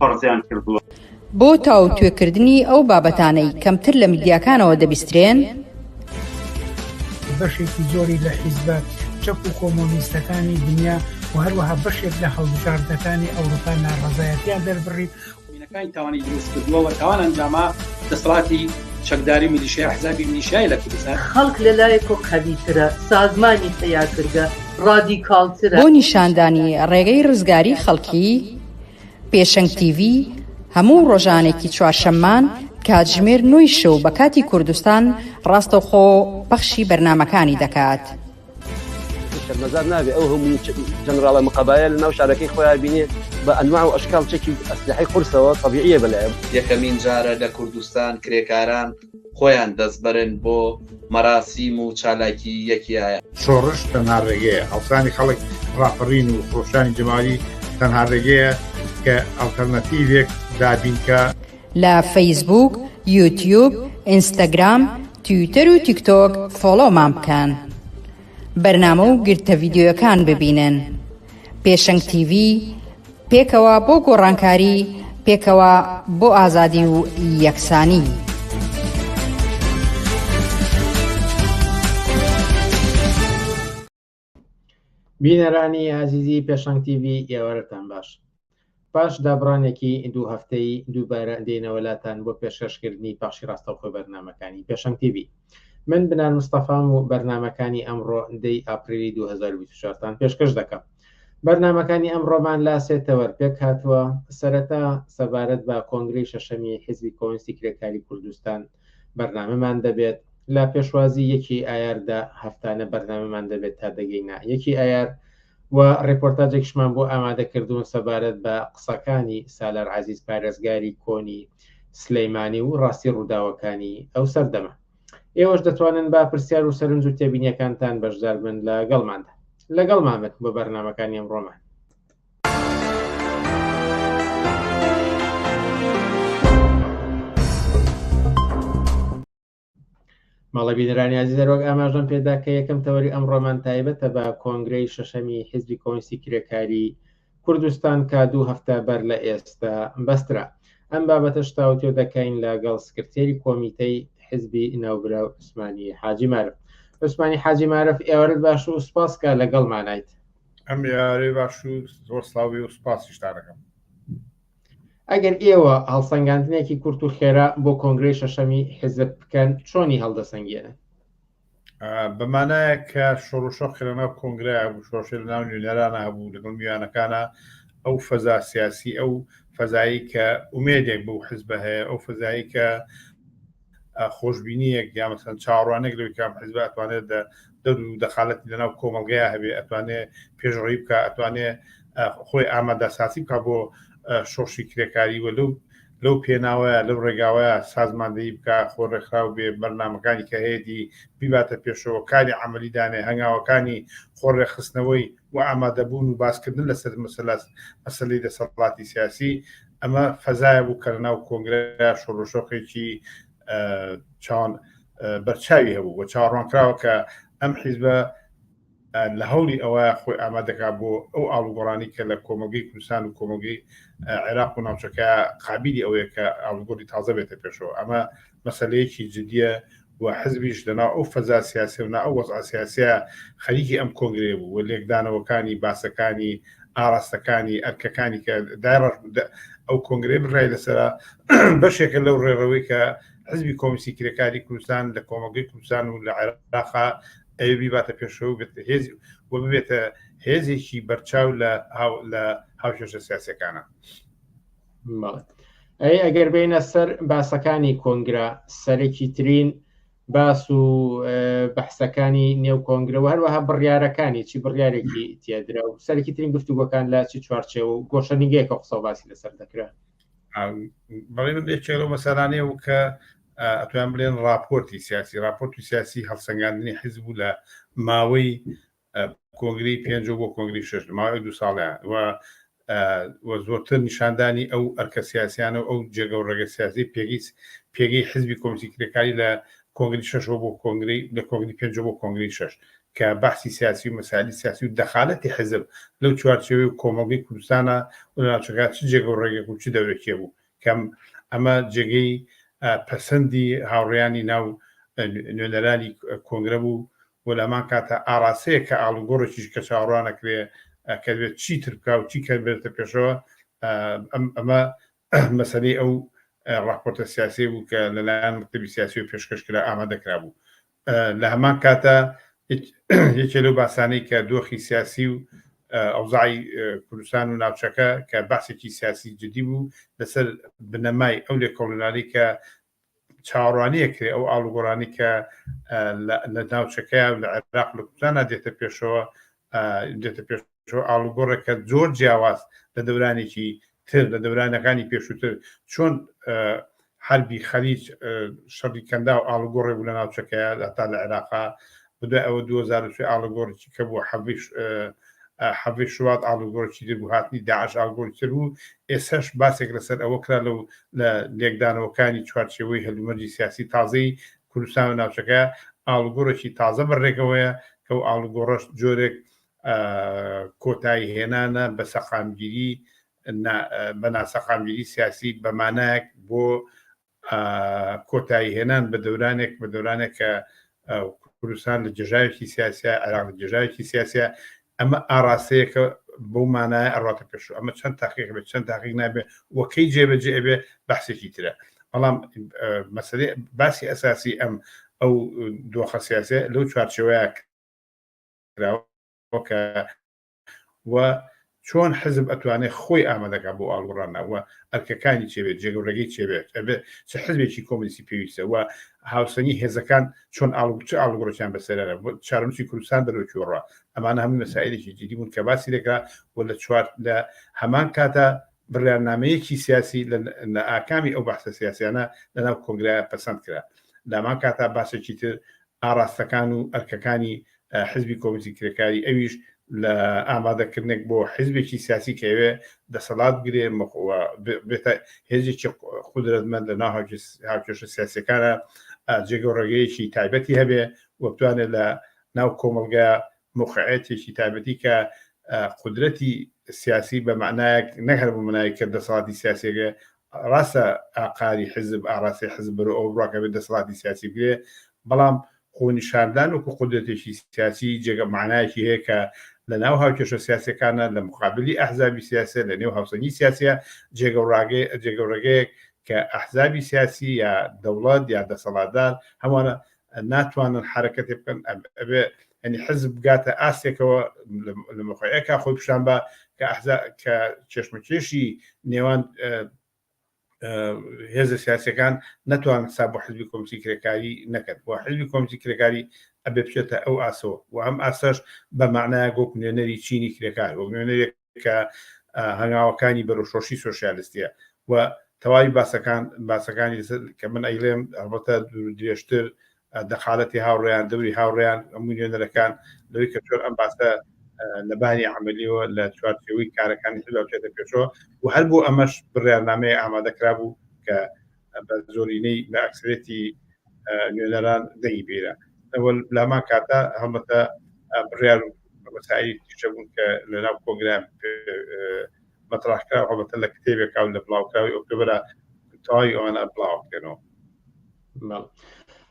پەڕزیان کردووە. بۆ تاوتوێکردنی ئەو بابەتانەی کەمتر لە میدیاکانەوە دەبیسترێن، بەشێکی زۆری لە حیزبە چەپ و کۆمۆنیستەکانی دنیا و هەروەها بەشێک لە هەڵبژاردەکانی ئەوروپا ناڕەزایەتیان دەربڕی کانی تاوانی دروست کردووە و تاوان ئەنجامە دەسەڵاتی چەکداری میلیشیا حزابی میلیشیای لە کوردستان. خەڵک لە لایەکۆ قەویترە، سازمانی پەیاکرگە ڕادیکاڵترە. بۆ نیشاندانی ڕێگەی ڕزگاری خەڵکی، پێشەنگ تیڤی، هەموو ڕۆژانێکی چوارشەممان کاتژمێر نۆی شەو بە کاتی کوردستان ڕاستەوخۆ پەخشی بەرنامەکانی دەکات. شەرمەزار نابێ ئەو هەموو جەنراڵە مقەبایە لە ناو شارەکەی خۆیان بینێ بە ئەنواع و ئەشکاڵ چەکی ئەسلحەی قورسەوە تەبیعیە بەلایان. یەکەمین جارە لە کوردستان کرێکاران، خۆیان دەستبەرن بۆ مەراسیم و چالاکی یەکیایە. شۆڕش تەنها ڕێگەیە، هەڵسانی خەڵک، ڕاپەڕین و خرۆشانی جەماوەری تەنها ڕێگەیە کە ئەڵتەرناتیڤێک دابینکا. لە فەیسبووک، یوتیوب، ئینستاگرام، تویتەر و تیکتۆک فۆڵۆمان بکەن بەرنامە و گرتە ڤیدیۆیەکان ببینن. پێشەنگ تیڤی، پێکەوە بۆ گۆڕانکاری، پێکەوە بۆ ئازادی و یەکسانی. بینەرانی ئازیزی پێشەنگ تیڤی ئێوارەتان باش. پاش دابڕانێکی دوو هەفتەی دووبارە دێنەوە لاتان بۆ پێشکەشکردنی پەخشی ڕاستەوخۆی بەرنامەکانی پێشەنگ تیڤی من بنان مستەفام و بەرنمەکانی ئەمڕۆ دەی ئاپریلی 2024 تان پێشکەش دەکەم بەرنمەکانی ئەم ڕۆمان لا سێ تەوەر پێک هاتووە سەرەتا سەبارەت بە کۆنگری شەشەمی حزبی کۆنسی کرێکاری کوردستان بەرنامەمان دەبێت لە پێشوازی یەکی ئایاردا هەفتانە بەرنامەمان دەبێت تا دەگەینە یەکی ئایار و ڕێپۆرتاجێکشمان بۆ ئامادە کردوون سەبارەت بە قسەکانی سالار عزیز پارێزگاری کۆنی سلەیمانی و ڕاستی ڕووداوەکانی ئەو سەردەمە ئێوەش دەتوانن با پرسیار و سەرنج و تێبینیەکانتان بەشدار بن لە گەڵماندا لەگەڵ مامەت بە بەرنمەکانی ئەمڕۆمان ماڵە بینەرانی عزیز دەرۆک ئاماژەم پێدا کە یەکەم تەوەری ئەم ڕۆمان تایبەتە بە کۆنگرەی شەشەمی حزبی کۆنسی کرێکاری کوردستان کا دوو هەفتە بەر لە ئێستا بەسترا ئەم بابەتە شتاوتێ دەکەین لەگەڵ سکرتێری کۆمیتەی حزبی ناوبرا عوسمانی حاجی مارف عوسمانی حاجی مارف ئێوەرت باش و سپاسکە لەگەڵ مانایت ئەم یارەی باش و زۆر ساوی و سپاسیشتانەکەم ئەگەر ئێوە هەڵسەنگاندنێکی کورت و خێرا بۆ کۆنگری شەشەمی حزب بکەن چۆنی هەڵدەسەنگێنن بەمانایە کە شۆڕشۆ خرەناو کۆنگرای هەبوو شۆشە لە ناو نوێنەرانە هەبوو لەگەڵ میوانەکانە ئەو فەزا سیاسی ئەو فەزایی کە ئومێدێک بۆ حزب هەیە ئەو فەزایی کە خۆشببینیەک یا مەسەن چاڕوانێک لەوی کام حزب ئەتوانێت دە دەور و دەخالەتی لەناو کۆمەلگەیا هەبێ ئەتوانێ پێشڕی بکە ئەتوانێ خۆی ئامادە ساسی بکە بۆ شۆشی کرێکاری وە لەو لەو پێناوەیە لەو ڕێگاوەیە سازماندەی بکە خۆ ڕێکخراو بێ بەرنمەکانی کە هەیەی بیباتە پێشەوە کاری عملی دانێ هەنگاوەکانی خۆ ڕێخستنەوەی و ئامادەبوون و باسکردن لەسەر مەسەلاس مەسلی دەسەڵاتی سیاسی ئەمە فەزایە بوو کە لە ناو کۆنگرە شۆڕشۆخێکی چاوان بەرچاوی هەبوو بە چاوەڕوانکراوە کە ئەم حیزبە لە هەوڵی ئەوە خۆی ئامادەکا بۆ ئەو ئاڵوگۆڕانی کە لە کۆمەلگەی کوردستان و کۆمەلگەی عێراق و ناوچەکە قابلی ئەوەیە کە ئاڵوگۆری تازە بێتە پێشەوە ئەمە مەسەلەیەکی جدییە و حزبیش لە ناو ئەو فەزا سیاسیە و نا ئەو وەزعە سیاسیە خەریکی ئەم کۆنگرەیە بوو و لێکدانەوەکانی، باسەکانی، ئاراستەکانی، ئەرکەکانی کە دایڕشت بوو دە ئەو کۆنگرەیە بڕیاری لەسەرا بەشێکە لەو ڕێڕەوەی کە حزبی کۆمستی کرێکاری کوردستان لە کۆمەڵگەی کوردستان و لە عێراقا ئەوێ بیباتە پێشەوە و بێتە هێز و ببێتە هێزێکی بەرچاو لە هاو لە هاوکێشە سیاسیەکانە. ئەی ئەگەر بینە سەر باسەکانی کۆنگرا سەرەکی ترین باس و بەحسەکانی نێو کۆنگرە و هەروەها بڕیارەکانی چی بڕیارێکی تێدرا و سەرکی ترین گفتوگۆکان لە چی چوارچێ و گۆشەنیگەیەکە قسە باسی لەسەر دەکرا بەڵێ من یەکێک لەو مەسەرانەیە و کە ئەتوان بلێن راپۆرتی سیاسی راپۆرت و سیاسی هەڵسەنگاندنی حیزب و لە ماوەی کۆنگرەی پێنجەو بۆ کۆنگرەی شەش لە ماوەی دوو ساڵە و و زۆرتر نیشاندانی ئەو ئەرکە سیاسیانە و ئەو جێگە و ڕێگە سیاسی پێگەی پێگەی حزبی کۆمسی کرێکاری لە کۆنگری شەشەوە بۆ کۆنگری لە کۆنگری پێنج بۆ کۆنگری شش کە بەحسی سیاسی و مەسالی سیاسی و دەخالەتی حزب لەو چوارچێوی و کۆمەڵگەی کوردستانە و ناچەکە چ جێگە و ڕێگەک و چ دەورێکێ بوو کەم ئەمە جێگەی پەسەندی هاوڕیانی ناو نوێنەرانی کۆنگرە بوو و لەهەمان کاتدا ئاراستەیەک کە ئاڵوگۆڕێکیش کە چاوەڕوانەکرێ کە دەبێت چیتر بکا و چی کە بێتە پێشەوە ئەمە مەسەلەی ئەو ڕاپۆرتە سیاسیە بوو کە لەلایەن مکتبی سیاسی و پێشکەش کرا ئامادە کرابوو لە هەمان کاتە یەکێ لەو باسانەی کە دۆخی سیاسی و ئەوزای کوردستان و ناوچەکە کە باسێکی سیاسی جدی بوو لەسەر بنەمای ئەو لێکۆڵینانی کە چاوەڕوانی ئەکرێ ئەو ئاڵوگۆڕانەی کە لە ناوچەکەیان و لە عێراق لە کوردستانا دێتە پێشەوە دێتە پێشەوە ئاڵوگۆڕێکە زۆر جیاواز لە دەورانێکی تر لە دەورانەکانی پێشووتر چۆن حربی خەلیج شەڕی کەندا و ئاڵوگۆڕێ بوو لە ناوچەکەیە تا لە عێراقا خودای ئەوە دوو هەزار و سێ ئاڵوگۆڕێکی کە بوو حەڤیش حەڤی شوات ئاڵوگۆڕێکی تر بوو هاتنی داعش ئاڵگۆڕی تر بوو ئێساش باسێک لەسەر ئەوە کرا لەو لە لێکدانەوەکانی چوارچێوەی هەلومەرجی سیاسی تازەی کوردستان و ناوچەکە ئاڵوگۆڕێکی تازە بەڕێکەوەیە کە و ئاڵوگۆڕەش جۆرێک کۆتایی هێنانە بە سەقامگیری بە ناسەقامگیری سیاسی بەمانایەک بۆ کۆتایی هێنان بە دەورانێک بە دەورانێک کە کوردستان لە جێژاوێکی سیاسە عراق لە جێژاوێکی سیاسە ئەمە ئاراستەیەکە بەو مانایە ئەڕاتە پێش ئەمە چەند تاقیق بێت چەند تاقیق نابێت وەکەی جێبەجێ بێ بەحسێکی ترە بەڵام مەسەری باسی ئەساسی ئەم ئەو دۆخە سیاسە لەو چوارچەوەیە کراوە کە و چۆن حزب ئەتوانێت خۆی ئامادەکە بۆ ئاڵوڕانەوە ئەرکەکانی چێبێت جێگەڕێگەی چێبێت ئەبێت چ حزبێکی کۆمیسی پێویستەوە هاوسەنگی هێزەکان چۆن ئاڵوچ ئاڵگۆڕچیان بەسەرەرە بۆ چارمچی کوردستان دەرۆکیۆڕە ئەمان هەموو مەسائلێکی جدی بوون کە باسی دەکرا و لە چوار لە هەمان کاتە بڕیارنامەیەکی سیاسی لە ئاکامی ئەو بەحسە سیاسیانە لەناو کۆنگرای پەسەند کرا لامان کاتا باسێکی تر ئاراستەکان و ئەرکەکانی حزبی کۆمۆنیستی کرێکاری ئەویش لە ئامادەکردنێک بۆ حزبێکی سیاسی کە ئەوێ دەسەڵات بگرێ مەخوە بێتە هێزێکی قودرەتمەند لە ناو هاوکێشە سیاسەکانە جێگە و ڕێگەیەکی تایبەتی هەبێ و بتوانێت لە ناو کۆمەلگا مخعەتێکی تایبەتی کە قدرەتی سیاسی بە معنایەک نەهر بۆ منای کە دەسەڵاتی سیاسێگە ڕاستە ئاقاری حیزب ئاڕاستەی حیزب بەرەو ئەوە بڕوا کە ئەبێت دەسەڵاتی سیاسی بگرێ بەڵام خۆنیشاندان وەکو قودرەتێکی سیاسی جێگە مانایەکی هەیە کە لە ناو هاوکێشە سیاسەکانە لە مقابلی ئەحزابی سیاسە لە نێو هاوسەنگی سیاسە جێگە و ڕاگەی جێگە و ڕێگەیەک کە ئەحزابی سیاسی یا دەوڵەت یا دەسەڵاتدار هەمووانە ناتوانن حرەکەتێ بکەن ئەبێ ئەنی حزب بگاتە ئاستێکەوە لە مقعەکە خۆی پیشان بە کە ئەحزا کە چێشمەکێشی نێوان هێزە سیاسەکان نەتوان سا بۆ حزبی کۆمسی کرێکاری نەکرد بۆ حزبی کۆمسی کرێکاری ئەبێ بچێتە ئەو ئاسەوە و ئەم ئاسەش بە معناە گۆک نوێنەری چینی کرێکار وەک نوێنەرێک کە هەنگاوەکانی بەرەوشۆشی سۆسیالستیە و تەواوی باسەکان باسەکانی کە من ئەیڵێم هەڵبەتە درێژتر دەخالەتی هاوڕێیان دەوری هاوڕێیان ئەموو نوێنەرەکان لەوەی کە چۆن ئەم باسە لەبانی عملیەوە لە چوارچەوەی کارەکانی حزبچێتە پێشەوە و هەر بۆ ئەمەش بڕیارنامەیە ئامادەکرا بوو کە بە زۆرینەی بە ئەکسرێتی نوێنەران دەنگی بیرە ئەوە لاما کاتە هەڵبەتە بڕیار مەسایی تیشە بوون کە لە ناو کۆنگرام مەتراحکرا هەڵبەتە لە کتێبێکا و لە بڵاوکراوی ئۆکتۆبرا تەواوی ئەوانە بڵاو بکەنەوە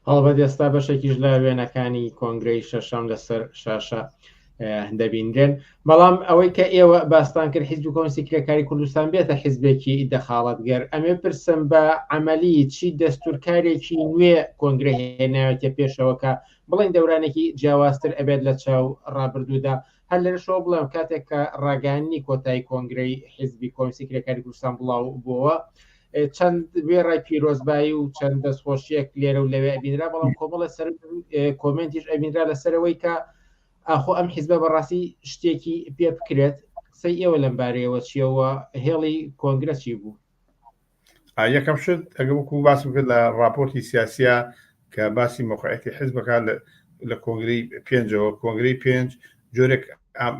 هەڵبەت ئێستا بەشێکیش لە وێنەکانی کۆنگرەی شەشەم لەسەر شاشە دەبینرێن بەڵام ئەوەی کە ئێوە باستان کرد حیزب و کۆنسی کرێکاری کوردستان بێتە حیزبێکی دەخاڵەت گەر ئەمێ پرسم بە عملی چی دەستورکارێکی نوێ کۆنگرە هێناوێتە پێشەوەکە بڵین دەورانێکی جیاوازتر ئەبێت لە چاو ڕابردوودا هەر لەشەوە بڵێم کاتێک کە ڕاگەانی کۆتایی کۆنگرەی حیزبی کۆنسی کرێکاری کوردستان بڵاو بووەوە چەند وێڕای پیرۆزبایی و چەند دەستخۆشیەک لێرە و لەوێ ئەبینرا بەڵام کۆمەڵە سەر کۆمنتیش ئەبینرا لەسەرەوەی کە ئاخۆ ئەم حیزبە بەڕاستی شتێکی پێ بکرێت قسەی ئێوە لەم بارەیەوە چیەوە هێڵی کۆنگرەسی بوو یەکەم شت ئەگە وەکو باس بکرد لە راپۆرتی سیاسە کە باسی مۆقعەتی حزب بکات لە لە کۆنگرەی پێنجەوە کۆنگرەی پێنج جۆرێک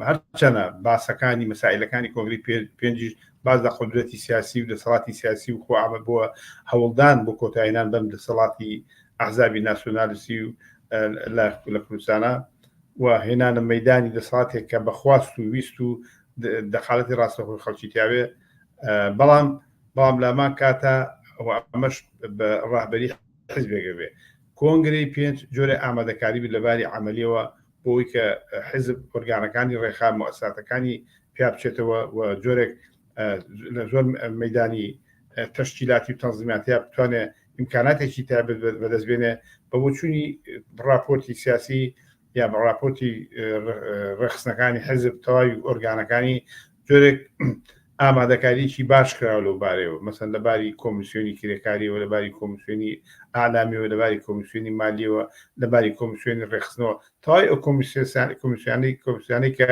هەرچەنە باسەکانی مەسائلەکانی کۆنگری پێنجیش باز لە قدرەتی سیاسی و دەسەڵاتی سیاسی و خۆ ئامە بووە هەوڵدان بۆ کۆتایینان بەم دەسەڵاتی ئەحزابی ناسیۆنالیسی و لە کوردستانە و هێنانە مەدانی دەسەڵاتێک کە بەخواست و ویست و دەخالەتی ڕاستەخۆی خەڵکی تیاوێ بەڵام بەڵام لامان کاتە ئەمەش بە ڕاهبەری حزبێکە بێ کۆنگرەی پێنج جۆرە ئامادەکاری بێت لە باری عملیەوە بۆی کە حزب ئۆرگانەکانی ڕێخا مؤساتەکانی پیا بچێتەوە و جۆرێک لە زۆر مەدانی تەشکیلاتی و تەنزیماتیا بتوانێت ئیمکاناتێکی تابێت بەدەستبێنێ بە بۆچوونی ڕاپۆرتی سیاسی یا بە ڕاپۆرتی ڕێخستنەکانی حزب تەواوی ئۆرگانەکانی جۆرێک ئامادەکاریی باش کراوە لەو بارەوە مەسەن لە باری کۆمیسیۆنی کرێکاریەوە لە باری کۆمیسیۆنی ئالامیەوە لە باری کۆمیسیۆنی مالیەوە لە باری کۆمیسیۆنی ڕێخستنەوە تای ئەو کۆمیسیۆنی کۆمیسیانەی کە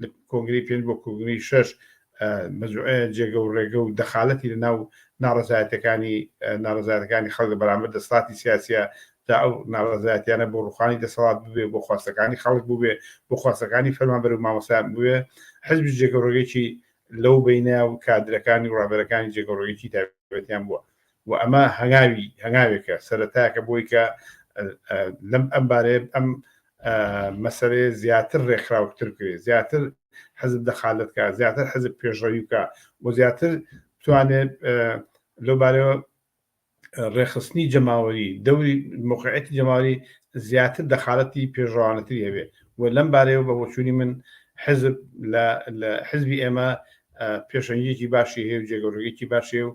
لە کۆنگری پێنج بۆ کۆنگری شەش جێگە و ڕێگە و دەخالەتی لە ناو ناڕزایەتەکانی ناڕزایەتەکانی خەڵک بەرامبەر دەسڵاتی سیاسە تا ئەو ناڕزایەتیانە بۆ ڕوخانی دەسەڵات بوێ بۆ خواستەکانی خەڵک بووێ بۆ خواستەکانی فەرمانبەر و مامەسان بوێ حزب جێگە ڕێگەێکی لەو بینە و کادرەکانی و ڕابەرەکانی جێگە ڕێگەێکی تابەتیان بووە و ئەمە هەنگاوی هەنگاوێکە سەرەتاکە بۆی کە لەم ئەم بارەیە ئەم مەسەرەیە زیاتر ڕێکخراوکتر کرێ زیاتر حەزب دەخالتکە زیاتر حەزب پێشڕەویکە و زیاتر توانێت لەوبارەوە ڕێخستنی جەماوەری دەوری مقعەتی جەماوەری زیاتر دەخالەتی پێشڕوانەتری هەبێ و لەم بارەیەوە بە بۆچووی من حزب لە حزبی ئێمە پێشەنگێکی باشی هەیە و جێگەڕێکی باشێ و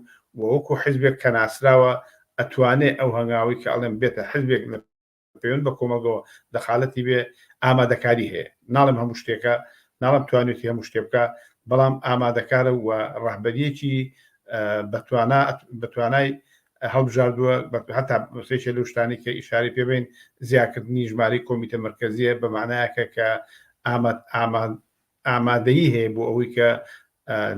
وەکو حزبێک کە ناسراوە ئەتوانێ ئەو هەنگاوی کە ئەڵێن بێتە حزبێک لە پەیوەند بە کۆمەڵگەوە دەخالەتی بێ ئامادەکاری هەیە ناڵم هەموو شتێکە ناڵم توانێتی هەموو شتێ بکە بەڵام ئامادەکارە و ڕەهبەریەکی بەتوانا بەتوانای هەڵبژاردووە هەتا سێکە لە شتانی کە ئیشاری پێبین زیاکردنی ژماری کۆمیتە مرکزیە بە معنایەکە کە ئاماد ئاماد ئامادەیی هەیە بۆ ئەوەی کە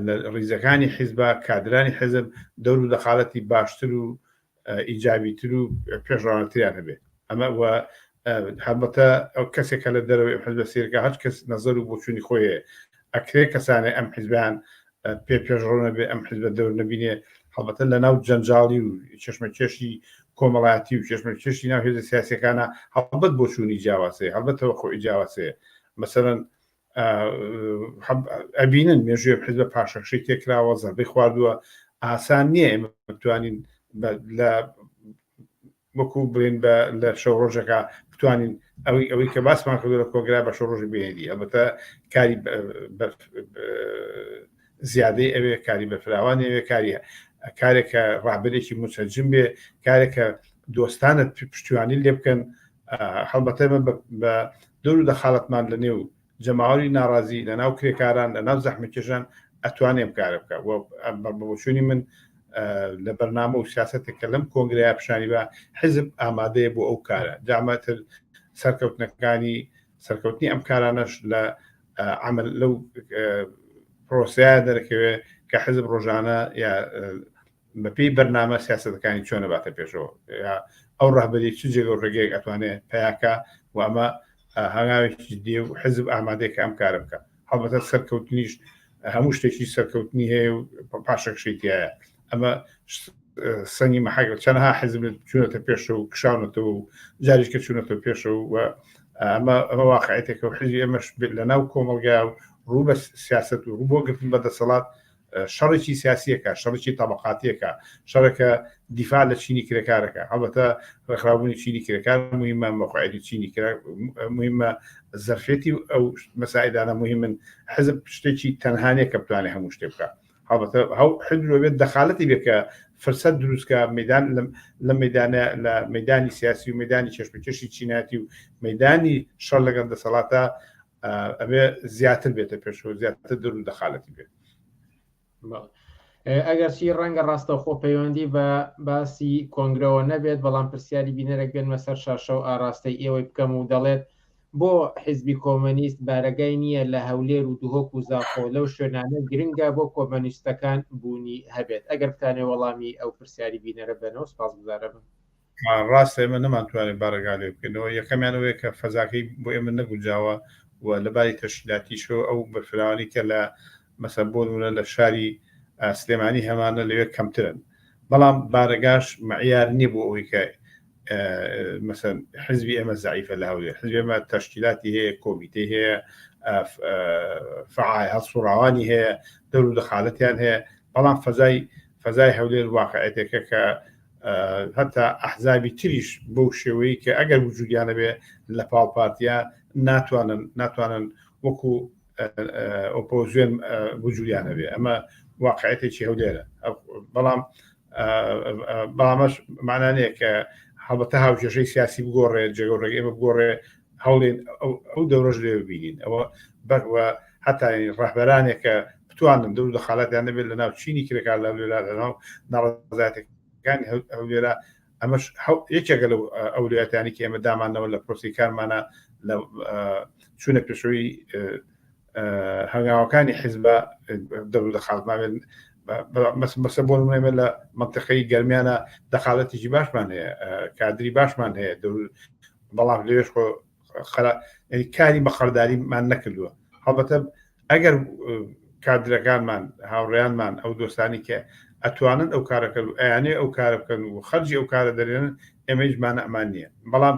لە ڕیزەکانی حیزبا کادرانی حزب دەور و دەقالەتی باشتر و ئیجابی تر و پێشڕانەتریان هەبێت ئەمە وە هەڵبەتە ئەو کەسێک کە لە دەرەوەی حزب سیرکە هەچ کەس نەزەر و بۆچوونی خۆیە ئەکرێ کەسانێ ئەم حزبیان پێ پێشڕۆنە بێ ئەم حزبە دەور نبینێ هەڵبەتە لە ناو جەنجاڵی و چشمە کێشی کۆمەڵاتی و چشمە کێشی ناو هێزە سیاسەکانە هەڵبەت بۆچوونی جیاوازەیە هەڵبەتەوە خۆی جیاوازەیە مەسەرەن ئەبینن مێژوێ حزبە پاشەکشی تێکراوە زەربەی خواردووە ئاسان نییە ئێمە بتوانین لە وەکو بڵێن بە لە شەو ڕۆژەکە بتوانین ئەوەی ئەوەی کە باسمان کردو لە کۆگرا بە شەو ڕۆژی بێنی ئەمەتە کاری زیادەی ئەوێ کاری بەفراوان ئەوێ کاریە کارێکە ڕابێکی مسەجم بێ کارێکە دۆستانت پشتیوانی لێ بکەن هەڵبەتە بە دەورو دەخالەتمان لە نێو جەماوەری ناڕازی لە ناو کرێکاران لە ناو زەحمەتکێشان ئەتوانێ ئەم کارە بکا و بە بۆچوونی من لە بەرنامە و سیاسەتێک کە لەم کۆنگرەیە پیشانی بە حزب ئامادەیە بۆ ئەو کارە جامەتر سەرکەوتنەکانی سەرکەوتنی ئەم کارانەش لە عمل لەو پرۆسەیە دەرەکەوێ کە حزب ڕۆژانە یا بە پێی بەرنامە سیاسەتەکانی چۆن نەباتە پێشەوە ئەو ڕهبەری چ جێگە و ڕێگەیەک ئەتوانێت پیاکە و ئەمە هەنگاوێکی دێ و حزب ئامادەێک ئەم کارە بکە هەڵبەتە سەرکەوتنیش هەموو شتێکی سەرکەوتنی هەیە و پاشەکشیتیایە ئەمە سەنگی مەحەک چەنها حزب چونەتە پێشە و کشاونەتەوە و جاریشکە چونەتە پێشە و ئەمە ئەمە واقعەتێکە و حزی ئەمەش لە ناو کۆمەلگا و ڕوو بە سیاست و ڕوو بۆ گرتن بە دەسەڵات شەڕێکی سیاسیەکە شەڕێکی تەبقاتیەکە شەڕەکە دیفاع لە چینی کرێکارەکە هەڵبەتە ڕێکخراوبوونی چینی کرێکار مهمە مەقاعدی چینی مهمە زەرفێتی ئەو مەسایدانە مهمن حزب شتێکی تەنهانێک کە بتوانێت هەموو شتێ بکە هەڵبەتە هەو حدرۆبێت دەخالەتی بێکە فرسەت دروستکە میدان لە میدانە لە میدانی سیاسی و میدانی چێشمکێشی چیناتی و میدانی شەر لەگەڵ دەسەڵاتە ئەبێ زیاتر بێتە پێشەوە زیاتر دەر و دەخالەتی بێت ئەگەرچی ڕەنگە ڕاستەخۆ پەیوەندی بە باسی کۆنگرەوە نەبێت بەڵام پرسیاری بینەرەك بێنمە سەر شاشە و ئاراستەی ئێوەی بکەم و دەڵێت بۆ حیزبی کۆمەنیست بارەگای نییە لە هەولێر و دهۆک و زاخۆ لەو شوێنانە گرنگە بۆ کۆمەنیستەکان بوونی هەبێت ئەگەر بتانێ وەڵامی ئەو پرسیاری بینەرە بەنەوە سپاس گوزارە بن. ڕاستە ئێمە نەمانتوانێت بارەگا لێ بکەینەوە، یەکەمیان ئەوەیە کە فەزاکەی بۆ ئێمە نەگونجاوە و لە باری تەشکیلاتیشەوە ئەو بەرفراوانەی کە لە مەسەن بۆ نموونە لە شاری سلێمانی هەمانە لەوێ کەمترن، بەڵام بارەگاش مەعیار نییە بۆ ئەوەی کە مەسەن حزبی ئێمە زەعیفە لە هەولێر، حزبی ئێمە تەشکیلاتی هەیە، کۆمیتەی هەیە، فعال هەڵسوڕاوانی هەیە، دەور و دەخالەتیان هەیە، بەڵام فەزای فەزای هەولێر واقعیتێکە کە هەتا ئەحزابی تریش بەو شێوەیە کە ئەگەر وجودیانە بێ لە پاڵ پارتیا ناتوانن ناتوانن وەکو ئۆپۆزیۆن وجودیانە بێ ئەمە واقعەتێکی هەولێرە بەڵام بامەش مانانەیە کە هەڵبەتە هاوکێشەی سیاسی بگۆڕێ جێگەڕێگە ئێمە بگۆڕێ هەوڵێن ئەو دەورەش لێ ببینین ئەوە بەگوە هەتاین ڕەهبەرانێکە بتوانن دەور لە خاڵاتیان نەبێت لە ناو چینی کرێکار لە لێرا لەناو ناڕزاتەکانی ئەو لێرە ئەمەش یەکێکە لەو ئەولاتانی کە ئێمە دامانەوە لە پرۆسی کارمانە لە چوونە پێشەوەی هەنگاوەکانی حیزبە دەور دەخاتماێن مەسە بۆ نمێمە لە منتەقەی گەرمیانە دەخالەتیی باشمان هەیە کادری باشمان هەیە بەڵام لێش خۆ خرا کاری بەخەرداریمان نەکردووە هەڵبەتە ئەگەر کادرەکانمان هاوڕێیانمان ئەو دۆستانی کە ئەتوانن ئەو کارەکە و ئەیانێ ئەو کارە بکەن و خەرجی ئەو کارە دەرێنن ئێمەیشمان ئەمان نییە بەڵام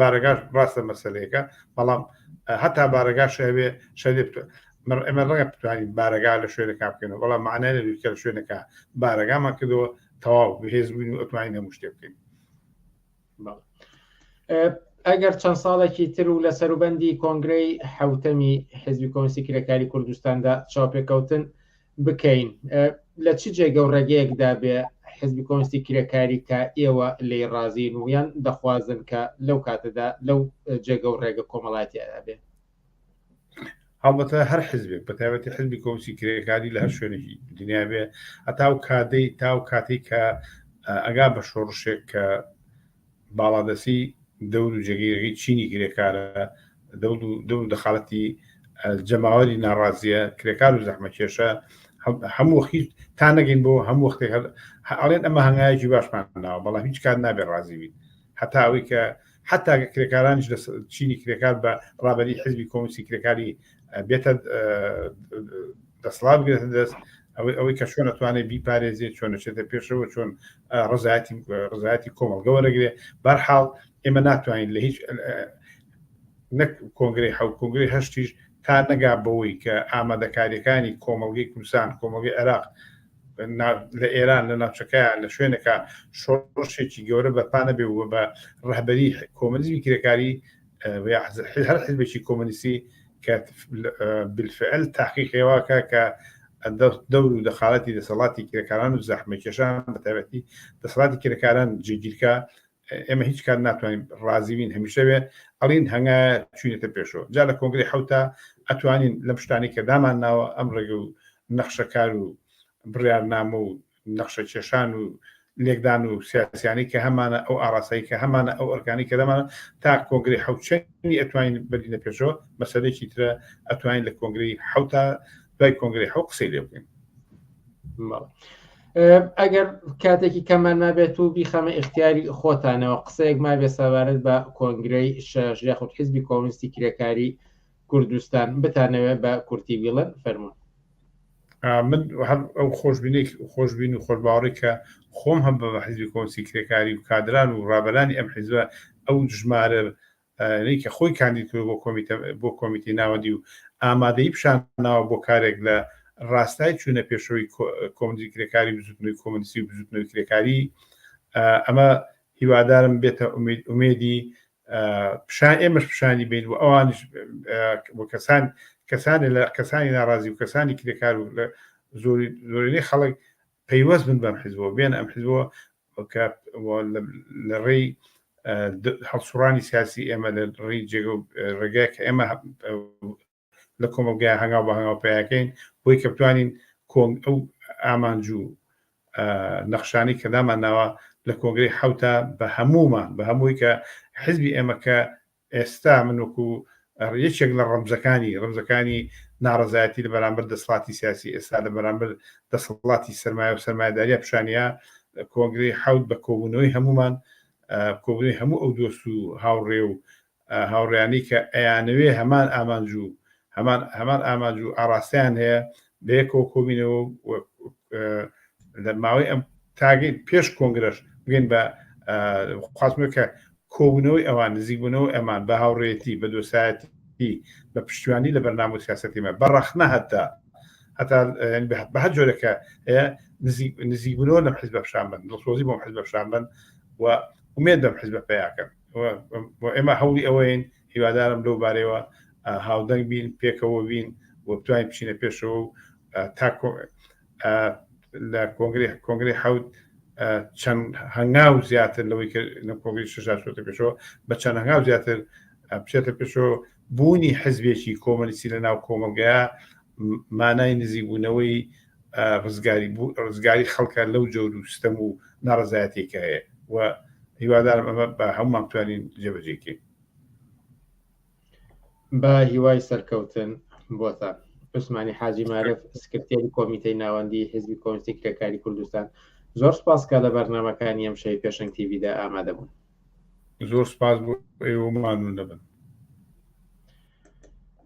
بارەگاش ڕاستە مەسلەیەەکە بەڵام هەتا بارەگاش هەبێ شەێ ئەمە ڕێ بتوانین بارەگا لە شوێنەکە بکەنەوە بەڵام معنای لەکە لە شوێنەکە بارەگامان کردەوە تەواو بەهێز بووین و ئەتوانین هەموو شتێ بکەین ئەگەر چەند ساڵێکی تر و لە سەروبەندی کۆنگرەی حوتەمی حزبی کۆنسی کرێکاری کوردستاندا چاپێکەوتن بکەین لە چ جێگە و ڕێگەیەکدا بێ حزبی کۆنستی کرێکاری کە ئێوە لی ڕازین و یان دەخوازن کە لەو کاتەدا لەو جێگە و ڕێگە کۆمەڵاتیدا بێ هەڵبەتە هەر حزبێک بە تایبەتی حزبی کۆنسی کرێکاری لە هەر شوێنێکی دنیا بێ ئەتاو کادەی تاو کاتێک کە ئەگا بە شۆڕشێک کە باڵادەستی دەور و جێگەیەکی چینی کرێکارە، دەور و دەخالەتی جەماوەری ناڕازیە، کرێکار و زەحمەکێشە، هەموو وەخت هیچ تا نەگەین بۆ هەموو وەختێک هەر ئەڵێن ئەمە هەنگایەکی باشمان ناوە، بەڵام هیچ کات نابێت ڕازی بیت هەتا ئەوەی کە حتا کرێکارانیش لە چینی کرێکار بە ڕابەری حزبی کۆمستی کرێکاری بێتە دەسڵات بگرێتە دەست ئەوەی ئەوەی کە چۆن ئەتوانێت بیپارێزیێ چۆن دەچێتە پێشەوە چۆن ڕزایەتی ڕزایەتی کۆمەلگە وەرەگرێ بەرحاڵ ئێمە ناتوانین لە هیچ نەک کۆنگری حو کۆنگری هەشتیش تا نەگا بەوەی کە ئامادەکاریەکانی کۆمەلگەی کوردستان کۆمەلگەی عێراق لە ئێران لە ناوچەکەیان لە شوێنەکە شۆڕشێکی گەورە بەپانە بێ بە ڕهبەری کۆمەلیزمی کرێکاری هەر حزبێکی کۆمەنیستی کە بالفعل تاقیقێواکە کە دەور و دەخالەتی دەسەڵاتی کرێکاران و زەحمە کێشان بەتابەتی دەسەڵاتی کرێکاران جێگیرکە ئێمە هیچ کات ناتوانین ڕازیوین هەمیشەوێ ئەڵین هەنگا چوینێتە پێشەوە جا لە کۆنگری حوتا ئەتوانین لەم شتانی کە دامان ناوە ئەم ڕێگە و نەخشەکار و بڕارنامە و نەخشەکێشان و لێکدان و سیاسیانی کە هەمانە ئەو ئاراسایی کە هەمانە ئەو ئەرکانی کە دەمانە تا کۆنگری حوچەنی ئەتوانین بەرینە پێشەوە مەسەرێکی ترە ئەتوانین لە کۆنگری حوتا دوای کۆنگری حو قسەی لێ بکەین ئەگەر کاتێکی کەمان نابێت و بیخەمە اختیاری خۆتانەوە قسەیەک ما بێ سەبارەت بە کۆنگرەی شەژ یاخود حزبی کۆمنیستی کرێکاری کوردستان بتانەوێت بە کورتی بیڵن فەرمون من هەر ئەو خۆشببینێک خۆشببین و خۆشباوەڕی کە خۆم هەم بە بە حیزبی کۆسی کرێکاری و کادران و ڕابەرانی ئەم حیزبە ئەو ژمارە کە خۆی کاندید کرد بۆ کۆمیتە بۆ کۆمیتی ناوەندی و ئامادەی پیشان ناوە بۆ کارێک لە ڕاستای چوونە پێشەوەی کۆمدی کرێکاری بزوتنەوەی کۆمنسی و بزوتنەوەی کرێکاری ئەمە هیوادارم بێتە ئومێدی پیشان ئێمەش پیشانی بین و ئەوانش بۆ کەسان کەسانی لە کەسانی ناڕازی و کەسانی کرێکار و لە زۆری زۆرینەی خەڵک پەیوەست بن بەم حزبەوە بێن ئەم حزبەوە کە لە ڕێی هەڵسوڕانی سیاسی ئێمە لە ڕێی جێگە ڕێگای کە ئێمە لە کۆمەڵگای هەنگاو بە هەنگاو پیاکەین بۆی کە بتوانین کۆنگ ئەو ئامانج و نەخشانی کە دامان ناوە لە کۆنگری حوتە بە هەمومان بە هەمووی کە حزبی ئێمە کە ئێستا من وەکو یەکێک لە ڕەمزەکانی ڕەمزەکانی ناڕزایەتی لە بەرامبەر دەسڵاتی سیاسی ئێستا لە بەرامبەر دەسەڵاتی سرمایە و سرمایداریە پیشانە کۆنگری حوت بە کۆبوونەوەی هەمومان کۆبوونەوەی هەموو ئەو دۆست و هاوڕێ و هاوڕێیانی کە ئەیانەوێ هەمان ئامانج و هەمان هەمان ئامانج و ئاڕاستەیان هەیە بەیەکەوە کۆبینەوە لە ماوەی ئەم تاگەی پێش کۆنگرەش بگەین بە خواستمە کە کۆبوونەوەی ئەوان نزیکبوونەوە ئەمان بە هاوڕێتی بە دۆسایەتی بە پشتیوانی لە بەرنامە و سیاستیمە بە ڕەخنە هەتا هەتا بە هەر جۆرەکە نزیکبوونەوە لەم حزب بەشان بن دڵسۆزی بۆم حزب بەشان بن و ومێ دەم حزب پێیاکەن و ئێمە هەوڵی ئەوەین هیوادارم لەو بارەوە هاودەنگ بین پێکەوە بین و بتوانین بچینە پێشەوە و تا لە کۆنگری کۆنگری حوت چەند هەنگاو زیاتر لەوەی لە کۆنگری ششاتە پێشەوە بە چەند هەنگاو زیاتر بچێتە پێشەوە بوونی حزبێکی کۆمەلیسی لە ناو کۆمەلگەیە مانای نزیبوونەوەی ڕزگاری بوو ڕزگاری خەڵکە لەو جۆر و ستەم و ناڕزایەتێکە هەیە و هیوادارم ئەمە بە هەمومان توانین جێبەجێکەین بە هیوای سەرکەوتن بۆتان عوسمانی حاجی مارف سکرتێری کۆمیتەی ناوەندی حزبی کۆنسی کرێکاری کوردستان زۆر سپاسکە لە بەرنمەکانی ئەم شەی پێشنگ تیویدا ئامادەبوون زۆر سپاس بۆ ئێوەمان و نەبن